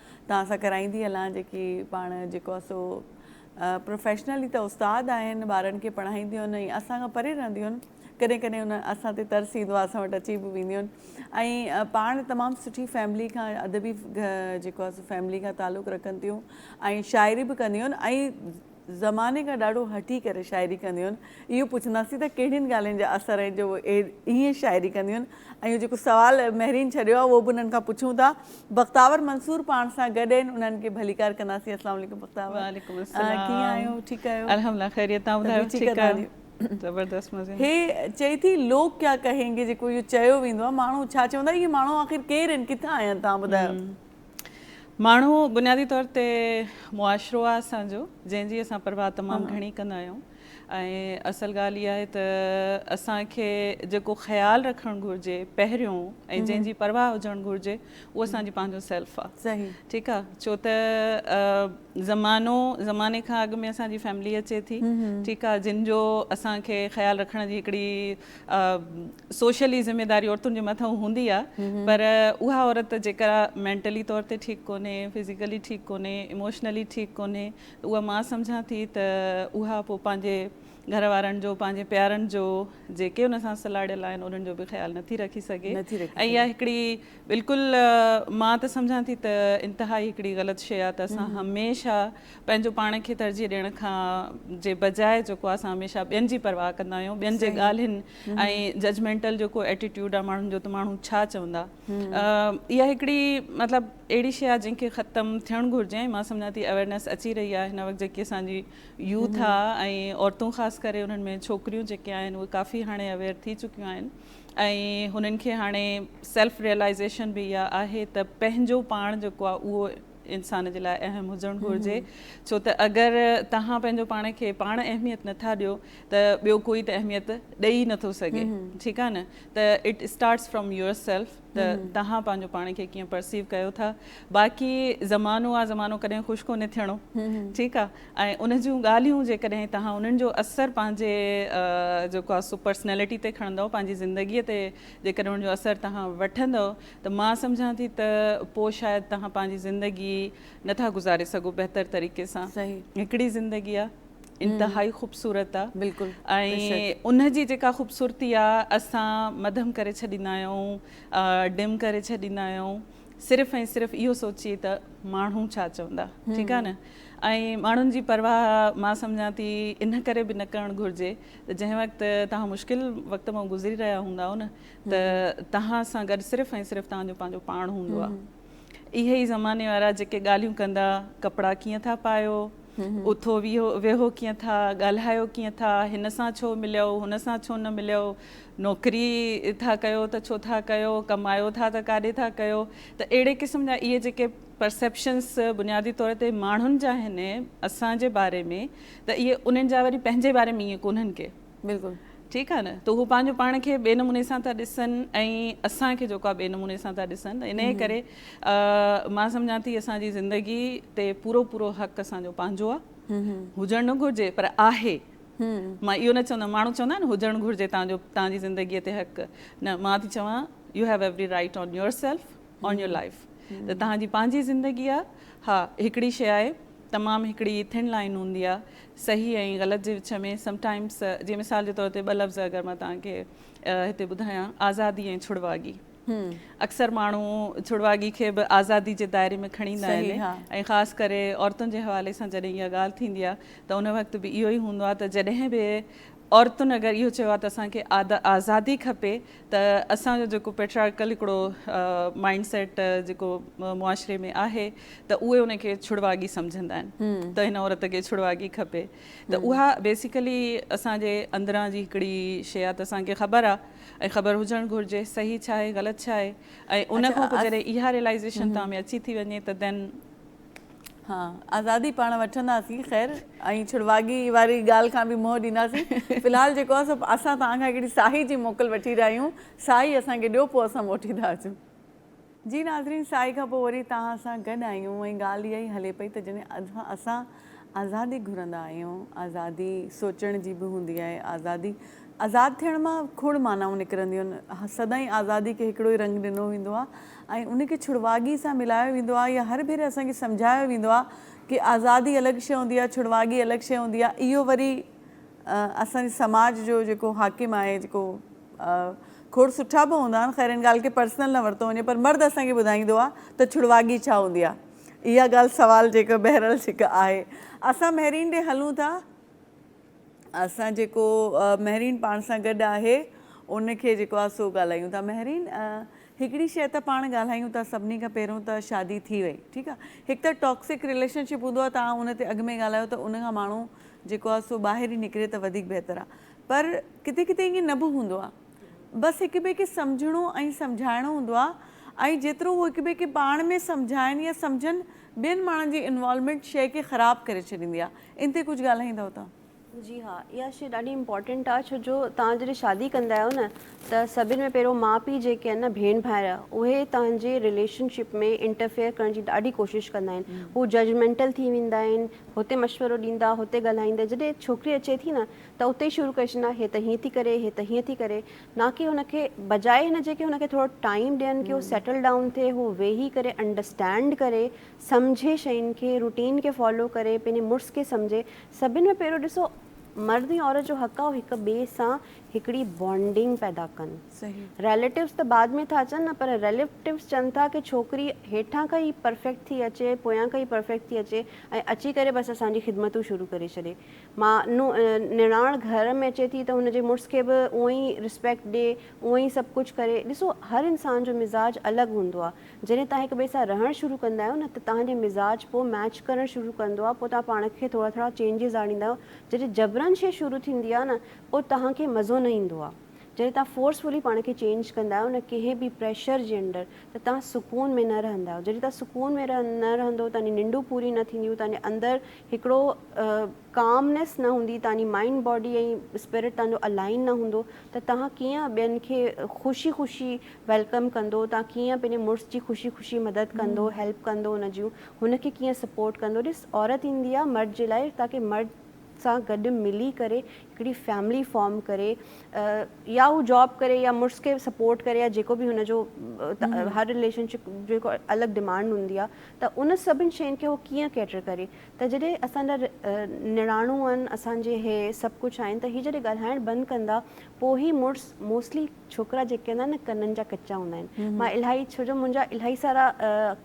Speaker 1: توهان سان ڪرائيندي هلان جيڪي پاڻ جيڪو آهي سو پروفيشنلي ته استاد آهن ٻارن کي پڙهائينديون آهن ۽ اسان کان پري رهنديون آهن ڪڏهن ڪڏهن انهن اسان تي ترس ايندو آهي اسان وٽ اچي به وينديون آهن ۽ پاڻ تمام سٺي فيملي کان ادبي جيڪو آهي سو فيملي کان تعلق رکن ٿيون ۽ شاعري به ڪنديون آهن ۽ زماني کان ڏاڍو هٺي ڪري شاعري ڪنديون اهو پڇنداسين ته ڪهڙين ڳالهين جا اثر آهن جو اهي ائين شاعري ڪنديون ۽ جيڪو سوال مهرين ڇڏيو آهي اهو به انهن کان پڇون ٿا بختاور منصور پاڻ سان گڏ آهن انهن کي ڀليڪار ڪنداسين السلام عليڪم بختاور وعليڪم السلام ڪيئن
Speaker 3: آهيو ٺيڪ آهيو
Speaker 1: الحمدلله خيريت تان
Speaker 3: ٻڌايو ٺيڪ آهيو زبردست مزي هي چئي ٿي
Speaker 1: لوگ ڪيا ڪهينگي جيڪو اهو چيو ويندو آهي ماڻهو ڇا چوندا اهي ماڻهو آخر ڪير آهن ڪٿان آيا آهن تان ٻڌايو
Speaker 3: ماڻهو بنيادي طور تي معاشرو آهي اسان جو جنهن جي اسان پرواهه تمام گهڻي ڪندا آهيون ۽ اصل ڳالهه اها آهي ته اسان کي جيڪو خيال رکڻ گهرجي پهريون ۽ جنهن جي پرواهه هجڻ گهرجي اهو اسان جي پنهنجو سيلف آهي ٺيڪ آهي
Speaker 1: ڇو ته
Speaker 3: زمانو زماني کان اڳ ۾ اسان جي فيملي اچي ٿي ٺيڪ آهي جن جو اسان کي خيال رکڻ جي هڪڙي سوشلي ذميداري عورتن جي مٿان هوندي آ پر اها عورت جيڪا مينٽلي طور تي ٺيڪ ڪونهي فزيڪلي ٺيڪ ڪونهي اموشنلي ٺيڪ ڪونهي ته اها مان سمجهان ٿي ته اها پوء پنهنجي گهر وارن جو پنهنجي پيارن جو جيڪي ان سان سلاڙيل آهن انهن جو به خيال نٿي رکي سگهي ۽ اها هڪڙي بلڪل مان ته سمجهان ٿي ته انتهائي هڪڙي غلط شيء آ ته اسان هميشه پنهنجو پاڻ کي ترجيح ڏيڻ کان جي بجاء جيڪو اسان هميشه ٻين جي پرواهه ڪندا آهيون ٻين جي ڳالهين ۽ ججمينٽل جيڪو ايٽيٽيوڊ آهي ماڻهن جو ته ماڻهو ڇا چوندا اها هڪڙي مطلب اهڙي شيء آهي جنهن کي ختم ٿيڻ گهرجي ۽ مان سمجهان ٿي اويرنيس اچي رهي آهي هن وقت جيڪي اسان جي يوٿ آهي ۽ عورتون خاص ڪري انهن ۾ ڇوڪريون جيڪي آهن اهي ڪافي هاڻي اويئر ٿي چڪيون آهن ۽ هنن کي هاڻي سيلف ريئلائزيشن به اها آهي ته پنهنجو پاڻ جيڪو آهي اهو انسان جي لاء اهم هجڻ گهرجي ڇو ته اگر توهان پنهنجو پاڻ کي پاڻ اهميت نٿا ڏيو ته ٻيو ڪوئي ته اهميت ڏئي ئي نٿو سگهي ٺيڪ آهي نه ته it starts from yourself ته توهان پنهنجو پاڻ کي ڪيئن پرسيو ڪيو ٿا باقي زمانو آ زمانو ڪڏهن خوش ڪونهي ٿيڻو ٺيڪ آهي ۽ ان جون ڳالهيون جيڪڏهن توهان انهن جو اثر پنهنجي جيڪو آ سو پرسنالٽي تي کڻندو پنهنجي زندگي تي جيڪڏهن ان جو اثر توهان وٺندو ته مان سمجهان ٿي ته پوء شايد توهان پنهنجي زندگي نه ٿا گذاري سگهو بهتر طريقي سان هڪڙي زندگي آ انتهائي خوبصورت آ
Speaker 1: ۽ ان
Speaker 3: جي جيڪا خوبصورتي آ اسان مڌم ڪري ڇڏيندا آهيون ڊم ڪري ڇڏيندا آهيون صرف ۽ صرف اهو سوچي ته ماڻهو ڇا چوندا ٺيڪ آ نه ۽ ماڻهن جي پرواهه مان سمجهان ٿي ان ڪري به نه ڪرڻ گهرجي ته جنهن وقت توهان مشڪل وقت مان گذري رهيا هوندا نه ته توهان سان گڏ صرف ۽ صرف توهان جو پنهنجو پاڻ هوندو آهي. اهي ئي زماني وارا جيڪي ڳالهيون ڪندا، ڪپڙا ڪيئن ٿا پايو، اٿو ويهو ڪيئن ٿا، ڳالهايو ڪيئن ٿا، هن سان ڇو مليو، هن سان ڇو نه مليو، نوڪري ٿا ڪيو ته ڇو ٿا ڪيو، ڪمايو ٿا ته ڪاڏي ٿا ڪيو، ته اهڙي قسم جا اهي جيڪي پرسيپشنس بنيادي طور تي ماڻهن جا آهن اسان جي باري ۾ ته اهي انهن جا وري پنهنجي باري ۾ ائين ڪونهن ڪي. بلڪل ٺيڪ
Speaker 1: آ نه ته
Speaker 3: هو پنهنجو پاڻ کي ٻئي نموني سان ٿا ڏسن ۽ اسان کي جيڪو آ ٻئي نموني سان ٿا ڏسن ته انهي ڪري مان سمجهان ٿي اسان جي زندگي تي پورو پورو حق اسان جو پنهنجو آ هجڻ نه گهرجي پر آهي مان اهو نه چوندم ماڻهو چوندا آهن هجڻ گهرجي تنهنجو تنهنجي زندگي تي حق نه مان ٿي چوان you have every right on yourself on your life ته تنهنجي پنهنجي زندگي آ ها هڪڙي شي آهي تمام هڪڙي ٿن لائين هوندي آ صحيح ۽ غلط جي وچ ۾ سم ٽائمس جي مثال جي طور تي ٻه لفظ اگر مان توهان کي هتي ٻڌايان آزادي ۽ ڇڙواڳي اڪثر ماڻهو ڇڙواڳي کي به آزادي جي دائري ۾ کڻي ايندا آهن ۽ خاص ڪري عورتن جي حوالي سان جڏهن اها ڳالهه ٿيندي آهي ته ان وقت به اهو ئي هوندو آهي ته جڏهن به عورتن اگر اهو چيو آهي ته اسان کي آزادي کپي ته اسان جو جيڪو پيٽرارڪل هڪڙو مائنڊ سيٽ جيڪو معاشري ۾ آهي ته اهي ان کي ڇڙواڳي سمجهندا آهن ته هن عورت کي ڇڙواڳي کپي ته اها بيسيڪلي اسان جي اندران جي هڪڙي شيء آهي ته اسان کي خبر آهي ۽ خبر هجڻ گهرجي صحيح ڇا آهي غلط ڇا آهي ۽ ان کان پوء جڏهن اها ريلائيزيشن توهان ۾ اچي ٿي وڃي ته دين ها
Speaker 1: آزادي پاڻ وٺنداسين خير ۽ ڇڙواڳي واري ڳالهه کان به منهن ڏينداسين في الحال جيڪو آهي سو اسان توهان کان هڪڙي ساهي جي موڪل وٺي رهيا آهيون ساهي اسان کي ڏيو پوء اسان موٽي ٿا اچون. جي ناظرين ساهي کان پوء وري توهان سان گڏ آهيون ۽ ڳالهه اها ئي هلي پئي ته جڏهن اسان آزادي گهرندا آهيون آزادي سوچڻ جي به هوندي آهي آزادي آزاد ٿيڻ مان کوڙ معنائون نڪرنديون آهن سدائين آزادي کي هڪڙو ئي رنگ ڏنو ويندو آهي ۽ ان کي ڇڙواڳي سان ملايو ويندو آهي يا هر ڀيري اسان کي سمجهايو ويندو آهي ڪي آزادي الڳ شي هوندي آهي ڇڙواڳي الڳ شي هوندي آهي اهو وري اسان جي سماج جو جيڪو حاڪم آهي جيڪو کوڙ سٺا به هوندا آهن خير ان ڳالهه کي پرسنل نه ورتو وڃي پر مرد اسان کي ٻڌائيندو آهي ته ڇڙواڳي ڇا هوندي آهي اها ڳالهه سوال جيڪا بهرحال جيڪا آهي اسان مهرين ڏي هلون ٿا. اسان جيڪو مهرين پاڻ سان گڏ آهي ان کي جيڪو آ سو ڳالهايون ٿا مهرين هڪڙي شئي ته پاڻ ڳالهايون ٿا سڀني کان پهريون ته شادي ٿي وئي ٺيڪ آ هڪ ته ٽاڪسڪ رليشن شپ هوندو آ توهان ان تي اڳ ۾ ڳالهايو ته ان کان ماڻهو جيڪو آ سو ٻاهر ئي نڪري ته وڌيڪ بهتر آ پر ڪٿي ڪٿي ائين نه به هوندو آ بس هڪ ٻئي کي سمجهڻو ۽ سمجهائڻو هوندو آ ۽ جيترو هو هڪ ٻئي کي پاڻ ۾ سمجهائن يا سمجهن ٻين ماڻهن جي انوالومينٽ شئي کي خراب ڪري ڇڏيندي آ ان تي ڪجهه ڳالهائيندؤ ته. جي ها اها
Speaker 2: شئي ڏاڍي امپورٽنٽ آ ڇو جو توهان جڏهن شادي ڪندا آهيو نه ته سڀن ۾ پهريون ماء پيء جيڪي آهن نه ڀيڻ ڀائر اهي توهان جي رليشن شپ ۾ انٽرفيئر ڪرڻ جي ڏاڍي ڪوشش ڪندا آهن هو ججمينٽل ٿي ويندا آهن هتي مشورو ڏيندا هتي ڳالهائيندا جڏهن ڇوڪري اچي ٿي نه ته اتي ئي شروع ڪري ڇڏيندا هي ته هيئن ٿي ڪري هي ته هيئن ٿي ڪري نه ڪي هن کي بجاء هن جي ڪي هن کي ٿورو ٽائيم ڏين ڪي هو سيٽل ڊائون ٿئي هو ويهي ڪري انڊرسٽينڊ ڪري سمجهي شين کي روٽين کي فالو ڪري پنهنجي مڙس کي سمجهي سڀن ۾ پهريون ڏسو مرد ۽ عورت جو حق آ هو هڪ ٻئي سان هڪڙي بانڊنگ پيدا ڪن ريليٽوز
Speaker 1: ته بعد
Speaker 2: ۾ ٿا اچن نه پر ريليٽوز چون ٿا ڪي ڇوڪري هيٺان کان ئي پرفيڪٽ ٿي اچي پويان کان ئي پرفيڪٽ ٿي اچي ۽ اچي ڪري بس اسان جي خدمتون شروع ڪري ڇڏي ما نو نڻاڻ گهر ۾ اچي ٿي ته هن جي مڙس کي به اونئي ريسپيڪٽ ڏي اونئي سڀ ڪجهه ڪري ڏسو هر انسان جو مزاج الڳ هوندو آ جڏهن توهان هڪ ٻئي سان رهڻ شروع ڪندا آهيو نه ته توهان جو مزاج پوء ميچ ڪرڻ شروع ڪندو آهي پوء توهان پاڻ کي ٿورا ٿورا چينجز آڻيندا آهيو جڏهن جبرن شي شروع ٿيندي آهي نه پوء توهان کي مزو نه ايندو آهي جڏهن توهان فورسفلي پاڻ کي چينج ڪندا آهيو نه ڪنهن به پريشر جي انڊر ته توهان سڪون ۾ نه رهندا آهيو جڏهن توهان سڪون ۾ نه رهندو توهان جي ننڊون پوريون نه ٿينديون توهان جي اندر هڪڙو ڪامنيس نه هوندي، تهانجي مائنڊ باڊي ۽ اسپرٽ تهانجو الائن نه هوندو ته تهان ڪيئن ٻين کي خوشي خوشي ويلڪم ڪندو، تهان ڪيئن پنهنجي مڙس جي خوشي خوشي مدد ڪندو، هيلپ ڪندو ان جون، هن کي ڪيئن سپورٽ ڪندو، ڏس عورت ايندي آ مرد جي لاء تاڪي مرد سان گڏ ملي ڪري هڪڙي فيملي فارم ڪري يا هو جاب ڪري يا مڙس کي سپورٽ ڪري يا جيڪو به هن جو هر رليشن شپ جيڪو الڳ ڊمانڊ هوندي آ ته ان سڀن شين کي هو ڪيئن ڪيٽر ڪري ته جڏهن اسان جا نڻانو آهن اسان جي هي سڀ ڪجهه آهن ته هي جڏهن ڳالهائڻ بند ڪندا پوء هي مڙس موسٽلي ڇوڪرا جيڪي هوندا آهن نه ڪنن جا ڪچا هوندا آهن مان الاهي ڇو جو منهنجا الاهي سارا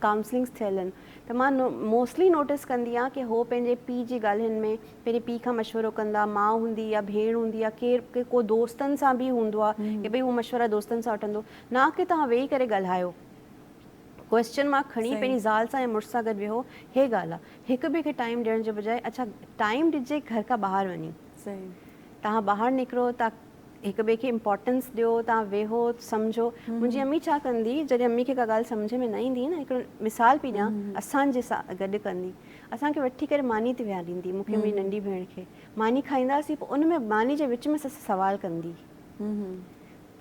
Speaker 2: ڪائونسلنگس ٿيل آهن ته مان موسٽلي نوٽس ڪندي آهيان ڪي هو پنهنجي پي جي ڳالهين ۾ پنهنجي پي کان مشورو ڪندا ماء هوندي يا ڀيڻ هوندي يا ڪير ڪو دوستن سان به هوندو آهي ڪي ڀئي هو مشورا دوستن سان وٺندو نه ڪي توهان ويهي ڪري ڳالهايو ڪوئسچن مارڪ کڻي پنهنجي زال سان يا مڙس سان گڏ ويهو هي ڳالهه آ هڪ ٻئي کي ٽائيم ڏيڻ جي بجاء اڇا ٽائيم ڏجي گهر کان ٻاهر وڃي
Speaker 1: تهان ٻاهر
Speaker 2: نڪرو تهان هڪ ٻئي کي امپورٽنس ڏيو تهان ويهو سمجهو منهنجي امي ڇا ڪندي جڏهن امي کي ڪا ڳالهه سمجهه ۾ نه ايندي نه هڪڙو مثال پي ڏيان اسان جي سا گڏ ڪندي اسان کي وٺي ڪري ماني تي ويهاريندي مون کي منهنجي ننڍي ڀيڻ کي ماني کائينداسين پو ان ۾ ماني جي وچ ۾ سوال ڪندي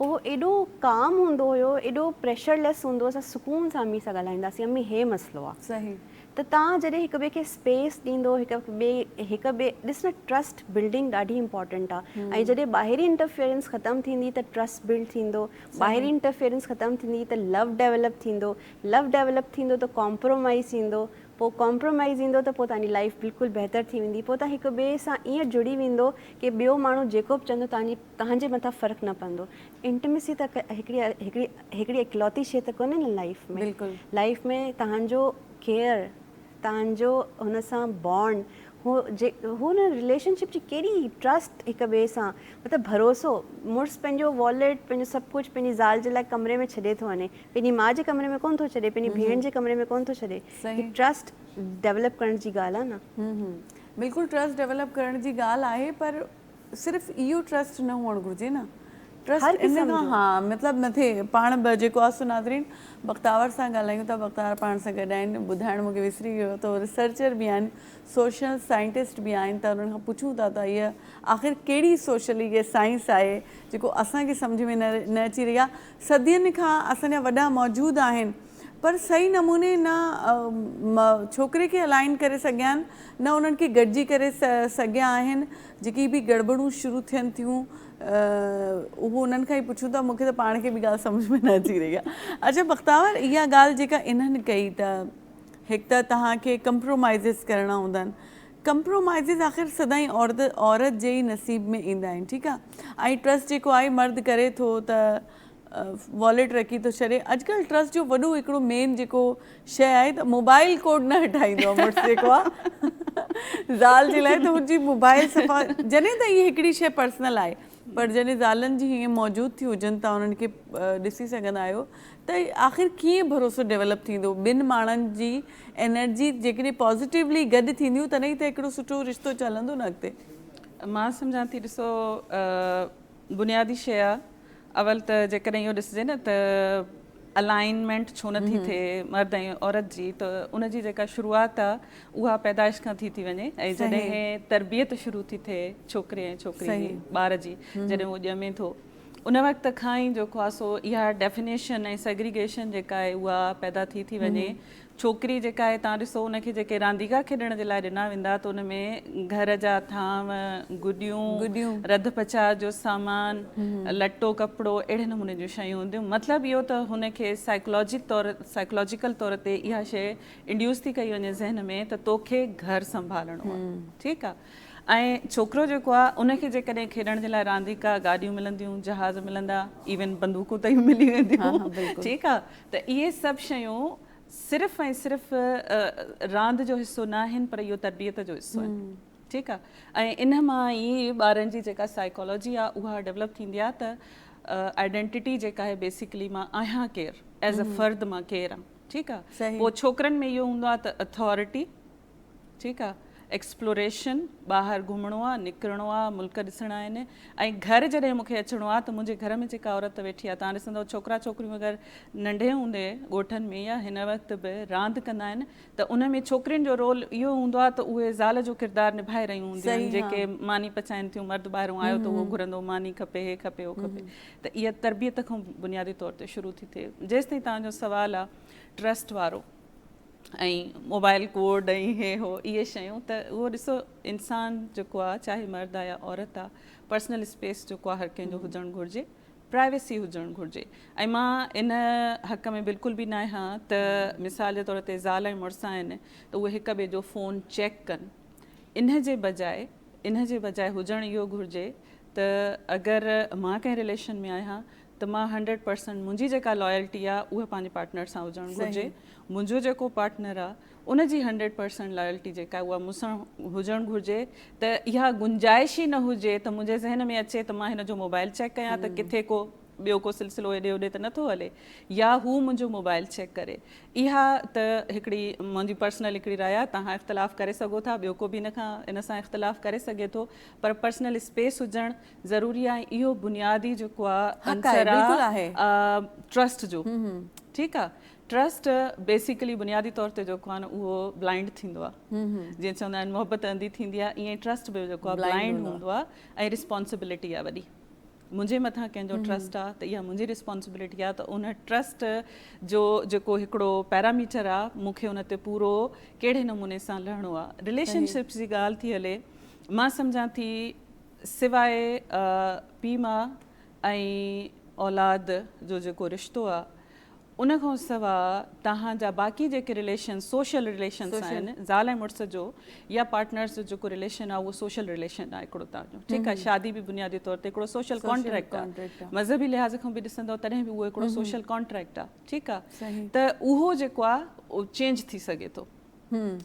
Speaker 2: هو ايڏو ڪام هوندو هيو ايڏو پريشر ليس هوندو اسان سڪون سان امي سان ڳالهائينداسين امي هي مسئلو آ صحيح ته تان
Speaker 1: جڏهن
Speaker 2: هڪ ٻئي کي اسپيس ڏيندو هڪ ٻئي هڪ ٻئي ڏس نه ٽرسٽ بلڊنگ ڏاڍي امپورٽنٽ آ ۽ جڏهن ٻاهرين انٽرفيئرنس ختم ٿيندي ته ٽرسٽ بلڊ ٿيندو ٻاهرين انٽرفيئرنس ختم ٿيندي ته لو ڊيولپ ٿيندو لو ڊيولپ ٿيندو ته ڪامپرومائيز ايندو پو ڪامپرومائيز ايندو ته پو تانجي لائيف بلڪل بهتر ٿي ويندي پو تان هڪ ٻئي سان ائين جڙي ويندو ڪي ٻيو ماڻهو جيڪو به چوندو تانجي توهان جي مٿان فرق نه پوندو انٽميسي ته هڪڙي هڪڙي هڪڙي اڪلوتي شي ته ڪونهي نه لائيف ۾ بلڪل لائيف ۾ توهان جو ڪيئر توهان جو هن سان بانڊ هو جي هو نه رليشن شپ جي ڪيڏي ٽرسٽ هڪ ٻئي سان مطلب ڀروسو مڙس پنهنجو واليٽ پنهنجو سڀ ڪجهه پنهنجي زال جي لاء ڪمري ۾ ڇڏي ٿو وڃي پنهنجي ماء جي ڪمري ۾ ڪونه ٿو ڇڏي پنهنجي ڀيڻ جي ڪمري ۾ ڪونه ٿو ڇڏي هي ٽرسٽ ڊيولپ ڪرڻ جي ڳالهه آهي نه بلڪل ٽرسٽ
Speaker 1: ڊيولپ ڪرڻ جي ڳالهه آهي پر صرف اهو ٽرسٽ نه هئڻ گهرجي نه ٽرسٽ ان کان ها مطلب نه ٿئي پاڻ به جيڪو آسو ناظرين بختاور سان ڳالهايون ٿا بختاور پاڻ سان گڏ آهن ٻڌائڻ مونکي وسري ويو ته ريسرچر به آهن سوشل سائنٽسٽ به آهن ته انهن کان پڇون ٿا ته هيء آخر ڪهڙي سوشل هيء سائنس آهي جيڪو اسان کي سمجهه ۾ نه اچي رهي آهي صدين کان اسان جا وڏا موجود آهن پر صحيح نموني نه ڇوڪري کي الائن ڪري سگهيا آهن نه انهن کي گڏجي ڪري سگهيا آهن جيڪي به گڙٻڙون شروع ٿين ٿيون اهو انهن کان ئي پڇون ٿا مون کي ته پاڻ کي به ڳالهه سمجهه ۾ نه اچي رهي آهي اچا بختاور اها ڳالهه جيڪا انهن ڪئي ته هڪ ته توهان کي ڪمپرومائزز ڪرڻا هوندا آهن ڪمپرومائزز آخر سدائين عورت عورت جي ئي نصيب ۾ ايندا آهن ٺيڪ آهي ۽ ٽرسٽ جيڪو آهي مرد ڪري ٿو ته واليٽ رکي ٿو ڇڏي اڄڪلھ ٽرسٽ جو وڏو هڪڙو مين جيڪو شئي آهي ته موبائل ڪوڊ نه هٽائيندو آهي مڙس جيڪو آهي زال جي لاء ته هنجي موبائل صفا جڏهن ته هي هڪڙي شئي پرسنل آهي پر جڏهن زالن جي هيئن موجود ٿي هجن تان انهن کي ڏسي سگهندا آهيو ته آخر ڪيئن ڀروسو ڊيولپ ٿيندو ٻن ماڻهن جي انرجي جيڪڏهن پازيٽيولي گڏ ٿينديون تڏهن ئي ته هڪڙو سٺو رشتو چ هلندو نه اڳتي مان سمجهان
Speaker 3: ٿي ڏسو بنيادي شيء آ اول ته جيڪڏهن اهو ڏسجي نه ته الائنمينٽ ڇو نه ٿي ٿئي مرد ۽ عورت جي ته ان جي جيڪا شروعات آ اها پيدائش کان ٿي ٿي وڃي ۽ جڏهن تربيت شروع ٿي ٿئي ڇوڪري ۽ ڇوڪري جي ٻار جي جڏهن هو ڄمي ٿو ان وقت کان ئي جيڪو آ سو اها ڊيفنيشن ۽ سيگريگيشن جيڪا آهي اها پيدا ٿي ٿي وڃي ڇوڪري جيڪا آهي تان ڏسو ان کي جيڪي رانديڪا کيڏڻ جي لاء ڏنا ويندا ته ان ۾ گهر جا ٿانو، گڏيون، رڌ پچاء جو سامان، لٽو ڪپڙو اهڙي نموني جون شيون هونديون مطلب اهو ته هن کي سائيڪلاجڪ طور سائيڪلاجيڪل طور تي اها شيء انڊيوس ٿي ڪئي وڃي ذهن ۾ ته توکي گهر سنڀالڻو آهي ٺيڪ آهي ۽ ڇوڪرو جيڪو آ ان کي جيڪڏهن کيڏڻ جي لاء رانديڪا گاڏيون ملنديون جهاز ملندا ايون بندوقون تائين ملي وينديون ٺيڪ آ ته اهي سڀ شيون صرف ۽ صرف راند جو حصو نه آهن پر اهو تربيت جو حصو آهن ٺيڪ آ ۽ ان مان ئي ٻارن جي جيڪا سائيڪالاجي آ اها ڊولپ ٿيندي آ ته آئيڊينٽيٽي جيڪا آهي بيسيڪلي مان آهيان ڪير ايز ا فرد مان ڪير آ ٺيڪ آ پوء ڇوڪرن ۾ اهو هوندو آ ته اٿارٽي ٺيڪ آ ايڪسپلوريشن ٻاهر گهمڻو آ نڪرڻو آ ملڪ ڏسڻا آهن ۽ گهر جڏهن مون کي اچڻو آ ته منهنجي گهر ۾ جيڪا عورت ويٺي آ توهان ڏسندو ڇوڪرا ڇوڪريون اگر ننڍي هوندي ڳوٺن ۾ يا هن وقت به راند ڪندا آهن ته ان ۾ ڇوڪرين جو رول اهو هوندو آ ته اهي زال جو ڪردار نڀائي رهيون هونديون آهن جيڪي ماني پچائين ٿيون مرد ٻاهرون آيو ته اهو گهرندو ماني کپي هي کپي هو کپي ته اها تربيت کان بنيادي طور تي شروع ٿي ٿئي جيستائين توهان جو سوال آ ٽرسٽ وارو ۽ موبائل ڪوڊ ۽ هي هو اهي شيون ته اهو ڏسو انسان جيڪو آ چاهي مرد آ يا عورت آ پرسنل اسپيس جيڪو آ هر ڪنهن جو هجڻ گهرجي پرائيويسي هجڻ گهرجي ۽ مان ان حق ۾ بلڪل به ناهي هان ته مثال جي طور تي زال ۽ مڙس آهن ته اهي هڪ ٻئي جو فون چيڪ ڪن ان جي بجاء ان جي بجاء هجڻ اهو گهرجي ته اگر مان ڪنهن رليشن ۾ آهيان ته مان هنڊريڊ پرسنٽ منهنجي جيڪا لائلٽي آ اها پنهنجي پارٽنر سان هجڻ گهرجي منهنجو جيڪو پارٽنر آ ان جي هنڊريڊ پرسنٽ لائلٽي جيڪا اها مون سان هجڻ گهرجي ته اها گنجائش ئي نه هجي ته منهنجي ذهن ۾ اچي ته مان هن جو موبائل چيڪ ڪيان ته ڪٿي ڪو ٻيو ڪو سلسلو هيڏي هوڏي ته نٿو هلي يا هو منهنجو موبائل چيڪ ڪري اها ته هڪڙي منهنجي پرسنل هڪڙي راء آ توهان اختلاف ڪري سگهو ٿا ٻيو ڪو به ان کان ان سان اختلاف ڪري سگهي ٿو پر پرسنل اسپيس هجڻ ضروري آ اهو بنيادي جيڪو آ عنصر آ ٽرسٽ جو ٺيڪ آ ٽرسٽ بيسيڪلي بنيادي طور تي جيڪو آ نه اهو بلائنڊ ٿيندو آ جيئن چوندا آهن محبت انڌي ٿيندي آ ائين ٽرسٽ به جيڪو آ بلائنڊ هوندو آ ۽ رسپانسبلٽي آ وڏي منهنجي مٿان ڪنهن جو ٽرسٽ آ ته اها منهنجي رسپانسبلٽي آ ته ان ٽرسٽ جو جيڪو هڪڙو پيرامیٽر آ مون کي ان تي پورو ڪهڙي نموني سان لهڻو آ رليشن شپس جي ڳالهه ٿي هلي مان سمجهان ٿي سواء پيء ماء ۽ اولاد جو جيڪو رشتو آ ان کان سوا توهان جا باقي جيڪي رليشنس سوشل رليشنس آهن زال ۽ مڙس جو يا پارٽنرس جو جيڪو رليشن آ اهو سوشل رليشن آ هڪڙو توهان جو ٺيڪ آ شادي به بنيادي طور تي هڪڙو سوشل ڪانٽريڪٽ آ مذهبي لحاظ کان به ڏسندو تڏهن به اهو هڪڙو سوشل ڪانٽريڪٽ آ ٺيڪ آ ته اهو جيڪو آ چينج ٿي سگهي ٿو هم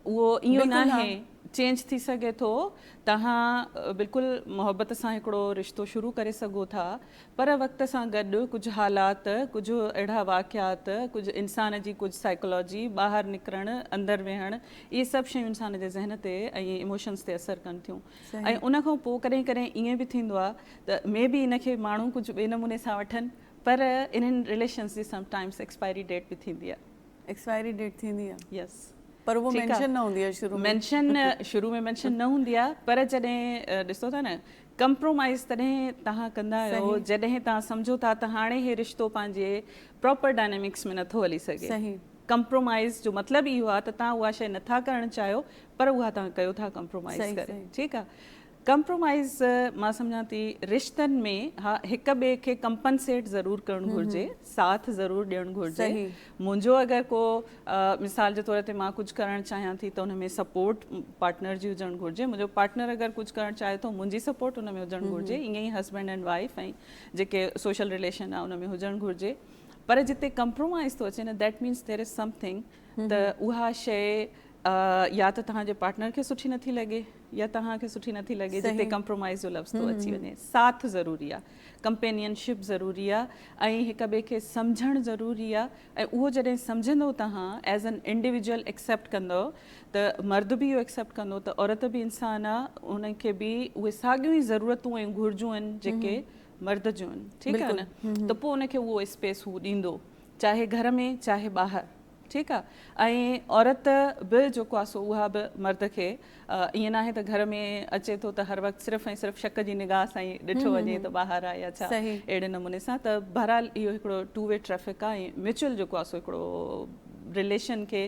Speaker 3: اهو ايئن ناهي چينج ٿي سگهي ٿو توهان بلڪل محبت سان هڪڙو رشتو شروع ڪري سگهو ٿا پر وقت سان گڏ ڪجهه حالات ڪجهه اهڙا واقعات ڪجهه انسان جي ڪجهه سائيڪلاجي ٻاهر نڪرڻ اندر ويهڻ اهي سڀ شيون انسان جي ذهن تي ۽ ايموشنس تي اثر ڪن ٿيون ۽ ان کان پوء ڪڏهن ڪڏهن ايئن به ٿيندو آهي ته مي بي ان کي ماڻهو ڪجهه ٻئي نموني سان وٺن پر انهن رليشنس جي سم ٽائمس ايڪسپائري ڊيٽ به ٿيندي آهي ايڪسپائري ڊيٽ
Speaker 1: ٿيندي آ يس پر اهو
Speaker 3: مينشن
Speaker 1: نه هوندي آ شروع ۾ مينشن شروع ۾
Speaker 3: مينشن نه هوندي آ پر جڏهن ڏسو ٿا نه ڪمپرومائز تڏهن تهان ڪندا آهيو جڏهن تهان سمجهو ٿا ته هاڻي هي رشتو پنهنجي پراپر ڊائنامڪس ۾ نٿو هلي سگهي ڪمپرومائز جو مطلب اهو آ ته تهان اها شي نٿا ڪرڻ چاهيو پر اها تهان ڪيو ٿا ڪمپرومائز ڪري ٺيڪ آ ڪمپرومائيز مان سمجهان ٿي رشتن ۾ ها هڪ ٻئي کي ڪمپنسيٽ ضرور ڪرڻ گهرجي ساٿ ضرور ڏيڻ گهرجي منهنجو اگر ڪو مثال جي طور تي مان ڪجهه ڪرڻ چاهيان ٿي ته ان ۾ سپورٽ پارٽنر جي هجڻ گهرجي منهنجو پارٽنر اگر ڪجهه ڪرڻ چاهي ٿو منهنجي سپورٽ ان ۾ هجڻ گهرجي ائين ئي هسبينڊ اينڊ وائف ۽ جيڪي سوشل رليشن آهي ان ۾ هجڻ گهرجي پر جتي ڪمپرومائيز ٿو اچي نه that means there is something ته اها شيء يا ته توهان جي پارٽنر کي سٺي نٿي لڳي يا توهان کي سٺي نٿي لڳي جتي ڪمپرومائيز جو لفظ ٿو اچي وڃي. ساٿ ضروري آهي، ڪمپينين شپ ضروري آهي ۽ هڪ ٻئي کي سمجهڻ ضروري آهي ۽ اهو جڏهن سمجهندو توهان ايز اين انڊيويجول ايڪسيپٽ ڪندو ته مرد به اهو ايڪسيپٽ ڪندو ته عورت به انسان آهي ان کي به اهي ساڳيون ئي ضرورتون ۽ گهرجون آهن جيڪي مرد جون آهن ٺيڪ آهي نه ته پوء ان کي اهو اسپيس هو ڏيندو. چاهي گهر ۾ چاهي ٻاهر ٺيڪ آ ۽ عورت به جيڪو آ سو اها به مرد کي ائين ناهي ته گهر ۾ اچي ٿو ته هر وقت صرف ۽ صرف شڪ جي نگاهه سان ئي ڏٺو وڃي ته ٻاهر آ يا ڇا اهڙي نموني سان ته بهرحال اهو هڪڙو ٽو وي ٽريفڪ آ ۽ ميچوئل جيڪو آ سو هڪڙو رليشن کي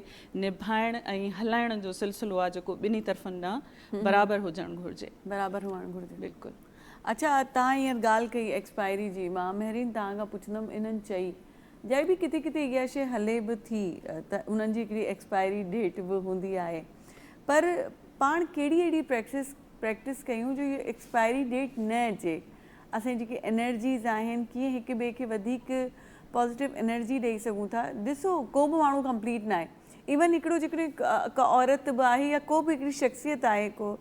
Speaker 3: نڀائڻ ۽ هلائڻ جو سلسلو آ جيڪو ٻنهي طرفن ڏانهن برابر هجڻ گهرجي برابر هئڻ گهرجي
Speaker 1: بلڪل. اڇا
Speaker 3: تان
Speaker 1: هينئر ڳالهه ڪئي ايڪسپائري جي مان مهرين تان کان پڇندم انهن چئي جائي به ڪٿي ڪٿي اها شئي هلي به ٿي ته انهن جي هڪڙي ايڪسپائري ڊيٽ به هوندي آهي پر پاڻ ڪهڙي اهڙي پريڪسس پريڪٽس ڪيون جو اهي ايڪسپائري ڊيٽ نه اچي اسين جيڪي انرجيز آهن ڪيئن هڪ ٻئي کي وڌيڪ پازيٽو انرجي ڏئي سگهون ٿا ڏسو ڪو به ماڻهو ڪمپليٽ ناهي ايون هڪڙو جيڪڏهن ڪا عورت به آهي يا ڪو به هڪڙي شخصيت آهي ڪو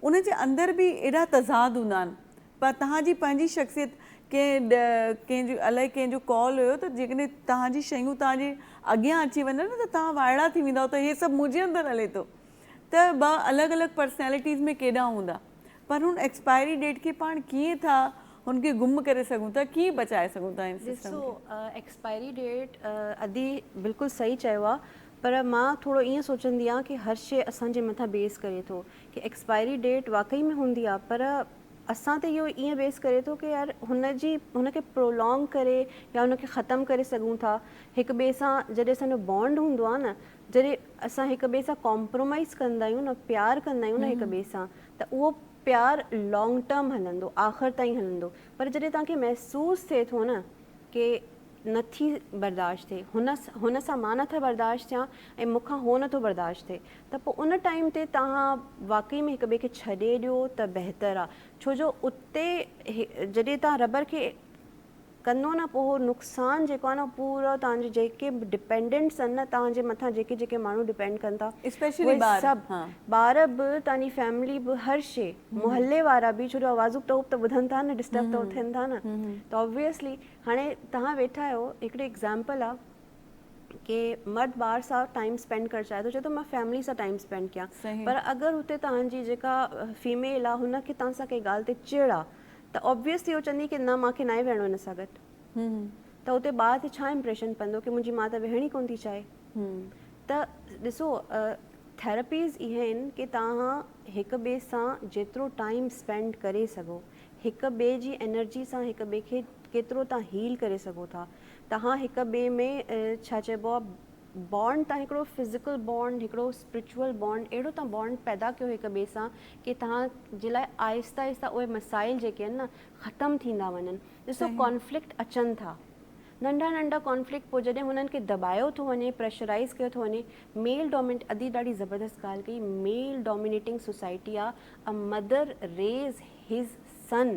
Speaker 1: ان جي اندر به ايڏا تضاد هوندا آهن پر توهان جي پنهنجي شخصيت ڪنهن ڪنهن جو الائي ڪنهن جو قول هيو ته جيڪڏهن توهان جي شيون توهان جي اڳيان اچي وڃن ته توهان وائڙا ٿي ويندا ته هي سڀ منهنجي اندر هلي ٿو ته ٻه الڳ الڳ پرسنالٽيز ۾ ڪيڏا هوندا پر هن ايڪسپائري ڊيٽ کي پاڻ ڪيئن ٿا هن کي گم ڪري سگهون ٿا ڪيئن بچائي سگهون ٿا هن سسٽم کي. ڏسو ايڪسپائري ڊيٽ
Speaker 2: ادي بلڪل صحيح چيو آ پر مان ٿورو ائين سوچندي آهيان ڪي هر شئي اسان جي مٿان بيس ڪري ٿو ڪي ايڪسپائري ڊيٽ واقعي ۾ هوندي آ پر اسان تي اهو ائين بيس ڪري ٿو ڪي يار هن جي هن کي پرولونگ ڪري يا هن کي ختم ڪري سگهون ٿا هڪ ٻئي سان جڏهن اسان جو بانڊ هوندو آ نه جڏهن اسان هڪ ٻئي سان ڪامپرومائيز ڪندا آهيون نه پيار ڪندا آهيون نه هڪ ٻئي سان ته اهو پيار لانگ ٽرم هلندو آخر تائين هلندو پر جڏهن توهان کي محسوس ٿئي ٿو نه ڪي نٿي برداشت ٿئي هن هن سان مان نٿا برداشت ٿيان ۽ مون کان هو نٿو برداشت ٿئي ته پوء ان ٽائيم تي توهان واقعي ۾ هڪ ٻئي کي ڇڏي ڏيو ته بهتر آهي ڇو جو اتي جڏهن توهان ربر کي ڪندو نه پوء اهو نقصان جيڪو آهي نه پورو توهان جي جيڪي به ڊپينڊنٽس آهن نه توهان جي مٿان جيڪي جيڪي ماڻهو ڊپينڊ ڪن ٿا اسپيشلي اهي ٻار سڀ ها ٻار به
Speaker 1: توهان
Speaker 2: جي فيملي به هر شي محلي وارا به ڇو جو آوازون ٽهوپ ته ٻڌن ٿا نه ڊسٽرب ته ٿين ٿا نه ته اوبويسلي هاڻي توهان ويٺا آهيو هڪڙي ايگزامپل آهي ڪي مرد ٻار سان ٽائيم اسپينڊ ڪرڻ چاهي ٿو چئي ٿو مان فيملي سان ٽائيم اسپينڊ ڪيان صحيح پر اگر هتي
Speaker 1: توهان
Speaker 2: جي جيڪا فيميل آهي هن کي توهان سان ڪنهن ڳالهه تي چڙ آهي ته Obviously هو چوندي ڪي نه مان کي ناهي ويهڻو هن سان گڏ ته اتي ٻار تي ڇا Impression پوندو ڪي منهنجي ماء ته ويهڻ ئي ڪونه ٿي چاهي ته ڏسو Therapies اهي آهن ڪي توهان هڪ ٻئي سان جيترو Time Spend ڪري سگهو هڪ ٻئي جي Energy سان هڪ ٻئي کي ڪيترو توهان Heal ڪري سگهو ٿا توهان هڪ ٻئي ۾ ڇا چئبو آهي بانڊ تان هڪڙو فزيڪل بانڊ هڪڙو اسپريچوئل بانڊ اهڙو تان بانڊ پيدا ڪيو هڪ ٻئي سان ڪي توهان جي لاء آهستي آهستي اهي مسائل جيڪي آهن نه ختم ٿيندا وڃن ڏسو ڪانفلڪٽ اچن ٿا ننڍا ننڍا ڪانفلڪٽ پوء جڏهن هنن کي دٻايو ٿو وڃي پريشرائيز ڪيو ٿو وڃي ميل ڊومينٽ ادي ڏاڍي زبردست ڳالهه ڪئي ميل ڊومينيٽنگ سوسائٽي آ a mother raise his son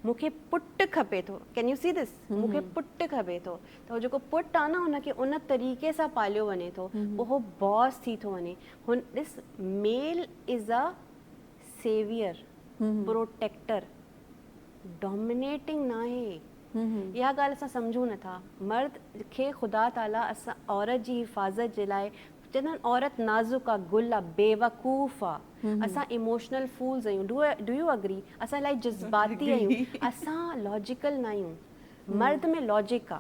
Speaker 2: مون کي پٽ کپي ٿو ڪين يو سي دس مون کي پٽ کپي ٿو ته هو جيڪو پٽ آهي نه ان کي ان طريقي سان پاليو وڃي ٿو پوء هو باس ٿي ٿو وڃي هن ڏس male is a saviour protector dominating نه آهي اها ڳالهه اسان سمجهون نٿا مرد کي خدا تعاليٰ اسان عورت جي حفاظت جي لاء چندن عورت نازڪ آ گل آ بيوقوف آ اسان ايموشنل فولز آهيون ڊو ڊو يو اگري اسان الائي جذباتي آهيون اسان لاجيڪل نه آهيون مرد ۾ لاجڪ آ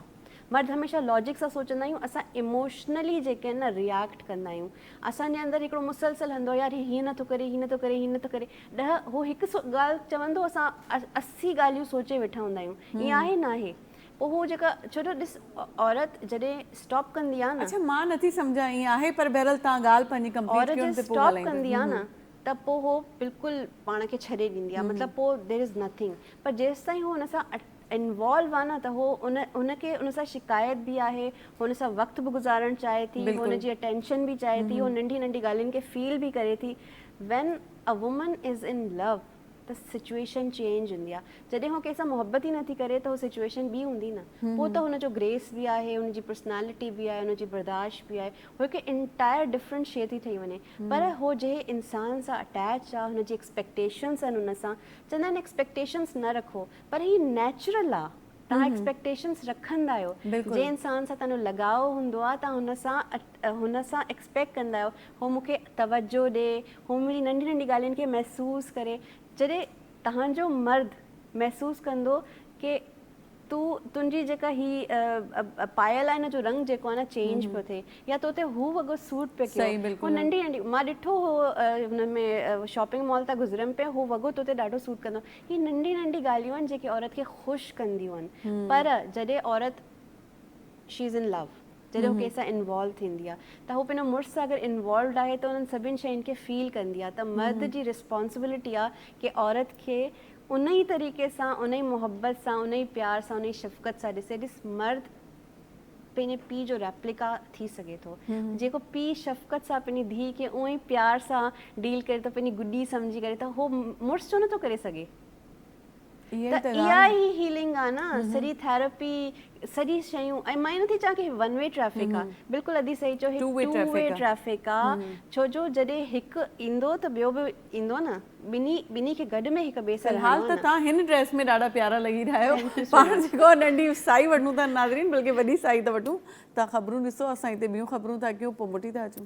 Speaker 2: مرد هميشه لاجڪ سان سوچندا آهيون اسان ايموشنلي جيڪي آهن نه رياڪٽ ڪندا آهيون اسان جي اندر هڪڙو مسلسل هندو يار هي هيئن نه ٿو ڪري هي نه ٿو ڪري هي نه ٿو ڪري ڏهه هو هڪ ڳالهه چوندو اسان اسي ڳالهيون سوچي ويٺا هوندا آهيون ائين آهي نه آهي اهو جيڪا ڇو جو ڏس عورت جڏهن اسٽاپ ڪندي آ نه. اڇا مان نٿي سمجهان
Speaker 1: ائين آهي پر بهرحال توهان ڳالهه پنهنجي ڪمپليٽ ڪيو تي پوء ڳالهائينداسين. عورت جڏهن اسٽاپ ڪندي
Speaker 2: آ
Speaker 1: نه ته
Speaker 2: پوء هو بلڪل پاڻ کي ڇڏي ڏيندي آ مطلب پوء ديئر از نٿنگ پر جيستائين هو ان سان انوالو آ نه ته هو ان هن کي ان سان شڪايت به آهي هو ان سان وقت به گذارڻ چاهي ٿي هو ان جي اٽينشن به چاهي ٿي هو ننڍي ننڍي ڳالهين کي فيل به ڪري ٿي when a woman is in love ته سچوئيشن چينج هوندي آ جڏهن هو ڪنهن سان محبت ئي نٿي ڪري ته هو سچوئيشن ٻي هوندي نه پوء ته هن جو گريس به آهي هن جي پرسنالٽي به آهي هن جي برداشت به آهي هو هڪ انٽائر ڊفرنٽ شي ٿي ٺهي وڃي پر هو جنهن انسان سان اٽيچ آ هن جي ايڪسپيڪٽيشنس آهن هن سان چوندا آهن ايڪسپيڪٽيشنس نه رکو پر هي نيچرل آ توهان ايڪسپيڪٽيشنس رکندا آهيو جنهن انسان سان تنهنجو لڳاء هوندو آهي توهان هن سان هن سان ايڪسپيڪٽ ڪندا آهيو هو مون کي توجهه ڏي هو منهنجي ننڍي ننڍي ڳالهين کي محسوس ڪري جڏهن تهانجو مرد محسوس ڪندو ڪي تو تنهنجي جيڪا هي پايل آهي نه جو رنگ جيڪو آهي نه چينج پيو ٿئي يا تو تي هو وڳو سوٽ پيو ڪيو هو ننڍي ننڍي مان ڏٺو هو هن ۾ شاپنگ مال تان گذريم پئي هو وڳو تو تي ڏاڍو سوٽ ڪندو هي ننڍي ننڍي ڳالهيون آهن جيڪي عورت کي خوش ڪنديون آهن پر جڏهن عورت شي از ان لو جڏهن هو ڪنهن سان انوالو ٿيندي آهي ته هو پنهنجو مڙس سان اگر انوالوڊ آهي ته انهن سڀني شين کي فيل ڪندي آهي ته مرد جي رسپانسبلٽي آهي ڪي عورت کي ان ئي طريقي سان ان ئي محبت سان ان ئي پيار سان ان ئي شفقت سان ڏسي ڏس مرد پنهنجي پيء جو ريپليڪا ٿي سگهي ٿو. جيڪو پيء شفقت سان پنهنجي ڌيء کي اونء ئي پيار سان ڊيل ڪري ٿو، پنهنجي گڏي سمجهي ڪري ٿو، هو مڙس ڇو نٿو ڪري سگهي؟ ته اها ئي هيلنگ آهي نه، سڄي ٿيراپي، سڄي شيون ۽ مان ائين نٿي چوان ته هي ون وي ٽريفڪ آهي، بلڪل ادي صحيح چيو هي ٽو وي ٽريفڪ آهي، ڇو جو جڏهن هڪ ايندو ته ٻيو به ايندو نه ٻنهي ٻنهي کي گڏ ۾ هڪ ٻئي سان رهڻو آهي نه. فلحال ته توهان هن ڊريس
Speaker 1: ۾ ڏاڍا پيارا لڳي رهيا آهيو پاڻ جيڪو آهي ننڍي سائي وٺون ٿا ناظرين بلڪه وڏي سائي ته وٺون توهان خبرون ڏسو اسان هتي ٻيون خبرون ٿا ڪيون پوء موٽي ٿا اچون.